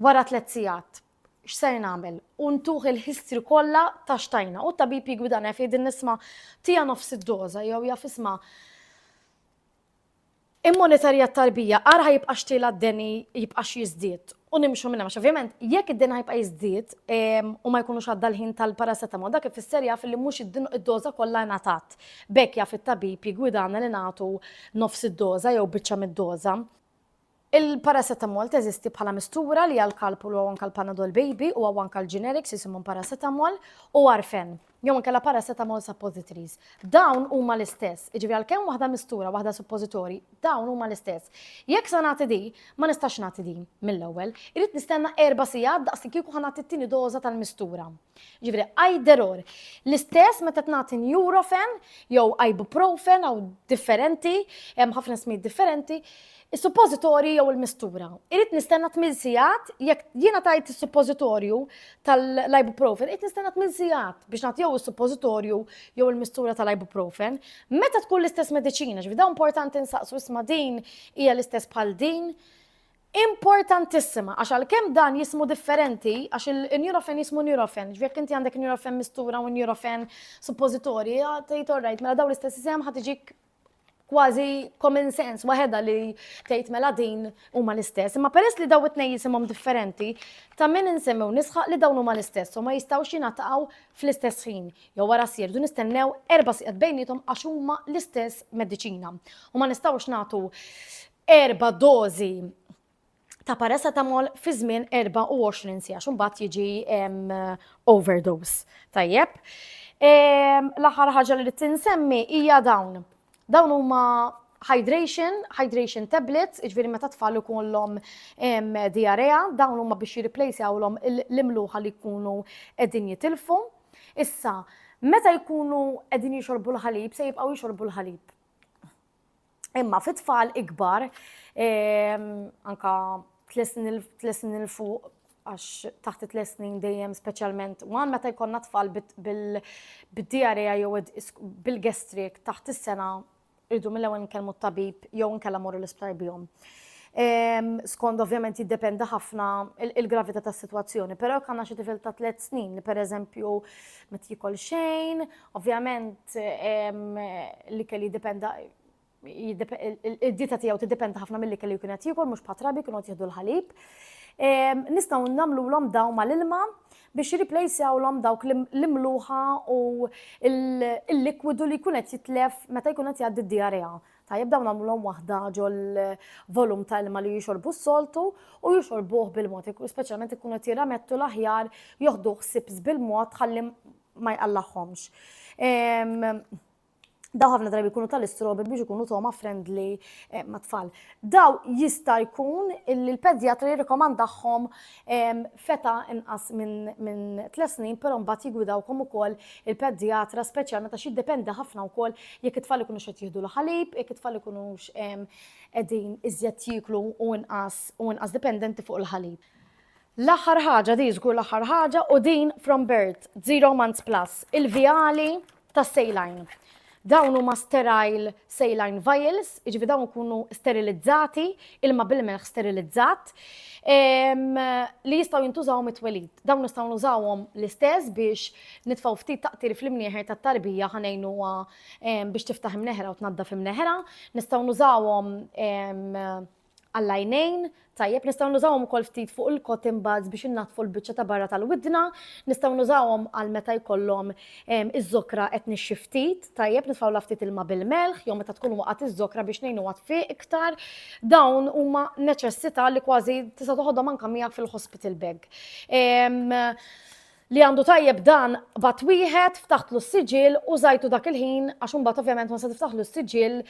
wara tliet sigħat. X'ser nagħmel? U ntuh il-history kollha ta' x'tajna u t-tabib jiggwidana jaf jgħidilni isma' tiha nofs id-doża jew jaf isma' Immonitorja t-tarbija, ara ħa jibqax tilgħa d-deni jibqax jiżdied u nimxu minn hemm għax ovvjament jekk id-deni ħa jibqa' jiżdied u ma jkunux għadda l-ħin tal-paracetamol dak ifisser jaf li mhux id-doża kollha ingħatat. B'hekk jaf it-tabib jiggwidana li nagħtu nofs id-doża jew biċċa mid-doża. Il-paracetamol teżisti bħala mistura li għal Calpol u anke l-Panadol Baby u anke l-generics jisimhom paracetamol u Arfen, jew inkella paracetamol suppositories. Dawn huma l-istess, jiġifieri għalkemm waħda mistura u waħda suppositorji, dawn huma l-istess. Jekk se nagħti din, ma nistax nagħti din mill-ewwel. Irrid nistenna erba' sigħat daqs li kieku ħa nagħti t-tieni doża tal-mistura. Jiġifieri either or. L-istess meta tnagħti Nurofen jew ibuprofen jew differenti, hemm ħafna smijiet differenti, Is-suppożitorji jew il-mistura. Irid nistenna tmien sigħat jekk jiena tajt is-suppożitorju tal-ibuprofen, irid nistenna tmien sigħat biex nagħtijew is-suppożitorju jew il-mistura tal-ibuprofen. Meta tkun l-istess mediċina, ġifi dawn importanti nsaqsu isma' din hija l-istess bħal din. Importantissima, għax għalkemm dan jismu differenti, għax il-Nurofen jismu Nurofen, ġifi jekk inti għandek Nurofen mistura u Nurofen suppożitorji, tgħid orrajt, mela dawn l-istess isem ħad iġik kważi common sense waħedha li tgħid mela din huma l-istess, imma peress li daw it-tnejn jisimhom differenti, ta' min insemmew nisħaq li dawn huma l-istess u ma jistgħux jingħataqgħu fl-istess ħin jew wara s sierdu nistennew erba' siegħat bejniethom għax huma l-istess mediċina u ma nistgħux nagħtu erba' dożi ta' paracetamol fi żmien 24 siegħa x'imbagħad jiġi overdose. Tajjeb. L-aħħar ħaġa li tinsemmi hija dawn. Dawn huma hydration, hydration tablets, iġveri meta tfal ikollhom diarrea, dawn huma biex jirriplejsjawlhom l-imluħa li jkunu qegħdin jitilfu. Issa, meta jkunu qegħdin jixorbu l-ħalib, se jibqgħu jixorbu l-ħalib. Imma fit tfal ikbar, ehm, anka tlesnin il-fuq, għax taħt it-tlesnin dejjem specialment, u għan meta jkonna tfal bil-diarrea jew bil-gestrik taħt is-sena irdu mill-ewwel nkellmu t-tabib jew nkella morru l-isptar bihom. Ehm, skond ovvjament jiddependi ħafna il-gravità tas-sitwazzjoni, però jekk għandna xi tifel ta' tliet snin li pereżempju ma tikol xejn Ovvjament l-ikel jiddipenda id-dieta tiegħu tiddipenda ħafna mill-ikel li jkun qed jiekol mhux patrabi kienu qed jieħdu l-ħalib. Nistgħu nagħmluhom daw mal-ilma biex jirriplejsjawlhom dawk l-imluħa u l-likwidu li jkun qed jitlef meta jkun qed jgħaddi d-diarrea. Tajjeb dawn nagħmluhom waħda ġol volum ta' ilma li jixorbu s-soltu u jixorbuh bil-mod, speċjalment ikunu qed jirramettu l-aħjar joħduh sips bil-mod ħalli ma jqallagħhomx. Daw ħafna drabi jkunu tal-istrobi biex ikunu toma friendly eh, ma' tfal. Daw jista' jkun illi l-pedjatra jirrikomandahom feta inqas minn tles snin, però mbagħad jigwidawkom ukoll il-pedjatra speċjalment għax jiddependi ħafna wkoll jekk it-tfal ikunu xed jieħdu l-ħalib, jekk it-tfal ikunu qegħdin iżjed jiklu u inqas u inqas dipendenti fuq il-ħalib. L-aħħar ħaġa, di żgur l-aħħar ħaġa, u din from birth, zero months plus, il-vijali ta' sejlajn. Dawn huma sterile saline vials, jiġifieri dawn ikunu sterilizzati, ilma bil-melħ sterilizzat, li jistgħu jintużaw mit-twelid. Dawn nistgħu nużawhom l-istess biex nitfgħu ftit taqtir fl-imnieħer tat-tarbija ħanejnu biex tiftaħ imneħra u tnaddaf imneħra, nistgħu nużawhom għall-għajnejn, tajjeb, nistgħu nużawhom ukoll ftit fuq il-cotton buds biex innaddfu l-biċċa ta' barra tal-widna, nistgħu nużawhom għal meta jkollhom ehm, iż-żokra qed nixxi ftit, tajjeb nitfgħulha ftit ilma bil-melħ jew meta tkun waqgħet iż-żokra biex ngħinuha tfiq iktar. Dawn huma neċessità li kważi tista' toħodhom anke miegħek fil-hospital bag. Ehm, li għandu tajjeb dan b'għadd wieħed, ftaħtlu s-siġill, użajtu dak il-ħin għax imbagħad ovvjament meta se tiftaħlu s-siġill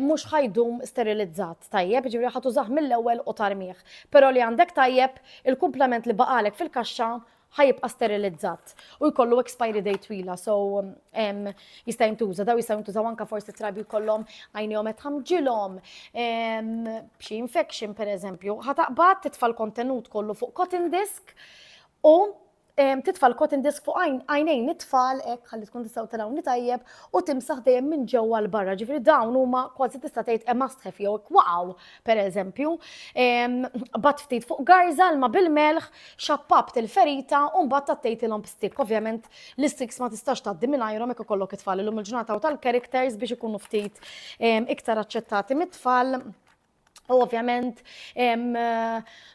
mhux ħa jdum sterilizzat, tajjeb, jiġifieri ħa tużah mill-ewwel u tarmih. Però li għandek tajjeb, il-kumplament li baqagħlek fil-kaxxa ħa jibqa' sterilizzat u jkollu expiry date twila, so jista' jintuża, daw jistgħu jintużaw anke forsi trabi jkollhom għajnejhom qed tħamġilhom, b'xi infection pereżempju, ħa taqbad titfa' l-kontenut kollu fuq cotton disk, u titfa' l-cotton disk fuq għajnejn it-tfal hekk ħalli tkun tistgħu telgħuni tajjeb u timsaħ dejjem minn ġewwa l barra. Ġifieri dawn huma kważi tista' tgħid hemm astħef jew hekk waqgħu pereżempju. Bat ftit fuq garża l-ma bil-melħ, xappabt il-ferita u mbagħad tattejtilhom b'stik. Ovvjament l-istiks ma tistax tgħaddi mingħajrhom hekk ikollok it-tfal illum il-ġurnata u tal-characters biex ikunu ftit iktar aċċettati mit-tfal. U ovvjament,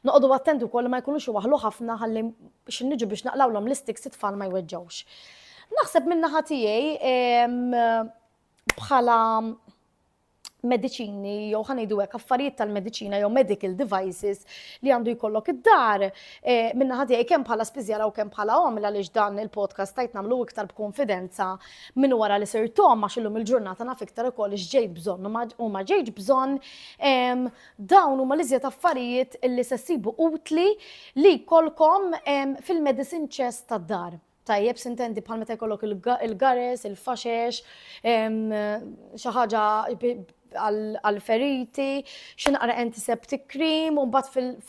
noqogħdu attenti wkoll ma jkunux iwaħlu ħafna ħalli biex niġu biex naqlawlhom l-istiks it-tfal ma jweġġawx. Naħseb minna naħa tiegħi bħala mediċini jew ħanejdu hekk affarijiet tal-mediċina jew medical devices li għandu jkollok id-dar eh, minna ħati kemm bħala spiżjara u kemm bħala omla għaliex dan il-podcast tajt nagħmlu iktar b'konfidenza Minn wara li sirt omm għax illum il-ġurnata naf iktar ukoll x'ġejt bżonn u ma ġejtx bżonn, dawn huma l-iżjed affarijiet li se ssibu utli li jkollkom fil-medicine chest tad-dar. Tajjeb sintendi bħal meta jkollok il-gares, il-faxex, xi ħaġa għall-feriti, xi naqra antiseptic cream, u mbagħad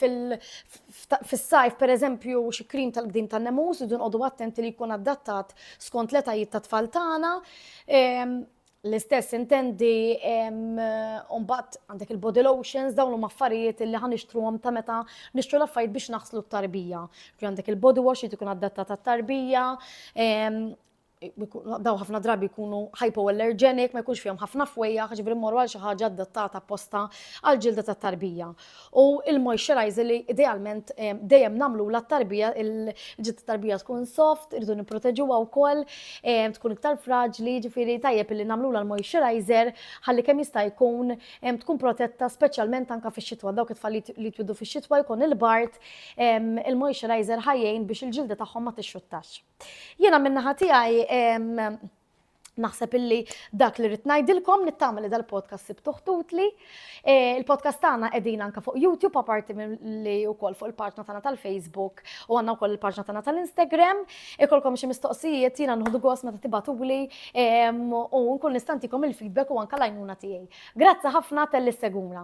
fis-sajf pereżempju xi cream tal-qdim tan-nemus, irridu nqogħdu attenti li jkun adattat skont l-etajiet tat-tfal tagħna. Ehm, l-istess intendi mbagħad għandek il-body lotions dawn huma affarijiet li ħa nixtruhom ta' meta nixtru l-affarijiet biex naħslu t-tarbija. Għandek il-body wash li tkun addattat għat-tarbija. daw ħafna drabi jkunu hypoallergenic, ma jkunx fihom ħafna fwejja, ġifri mmorru għal xi ħaġa adattata apposta għal ġilda ta' tarbija. U il-moisturizer li idealment eh, dejjem namlu la tarbija il-ġilda tarbija tkun soft, irridu nipproteġuha wkoll, eh, tkun iktar fraġli, ġifiri tajjeb li namlu la l-moisturizer ħalli kemm jista' jkun eh, tkun protetta speċjalment anka fix-xitwa dawk it-tfal li twidu fix-xitwa jkun il-bart il-moisturizer ħajjejn biex il-ġilda tagħhom ma tixxuttax. Jiena min-naħa tiegħi Naħseb illi dak li rrid ngħidilkom nittama li dal-podcast sibtu ħtutli. E, il-podcast tagħna qegħdin anke fuq YouTube apparti li wkoll fuq il-paġna tagħna tal-Facebook u għandna wkoll il-paġna tagħna tal-Instagram. Ikolkom xi mistoqsijiet jiena nħodu gost meta tibatuli u nkun nistantikom il-feedback u anke l-għajnuna tiegħi. Grazzi ħafna tal-li seguna.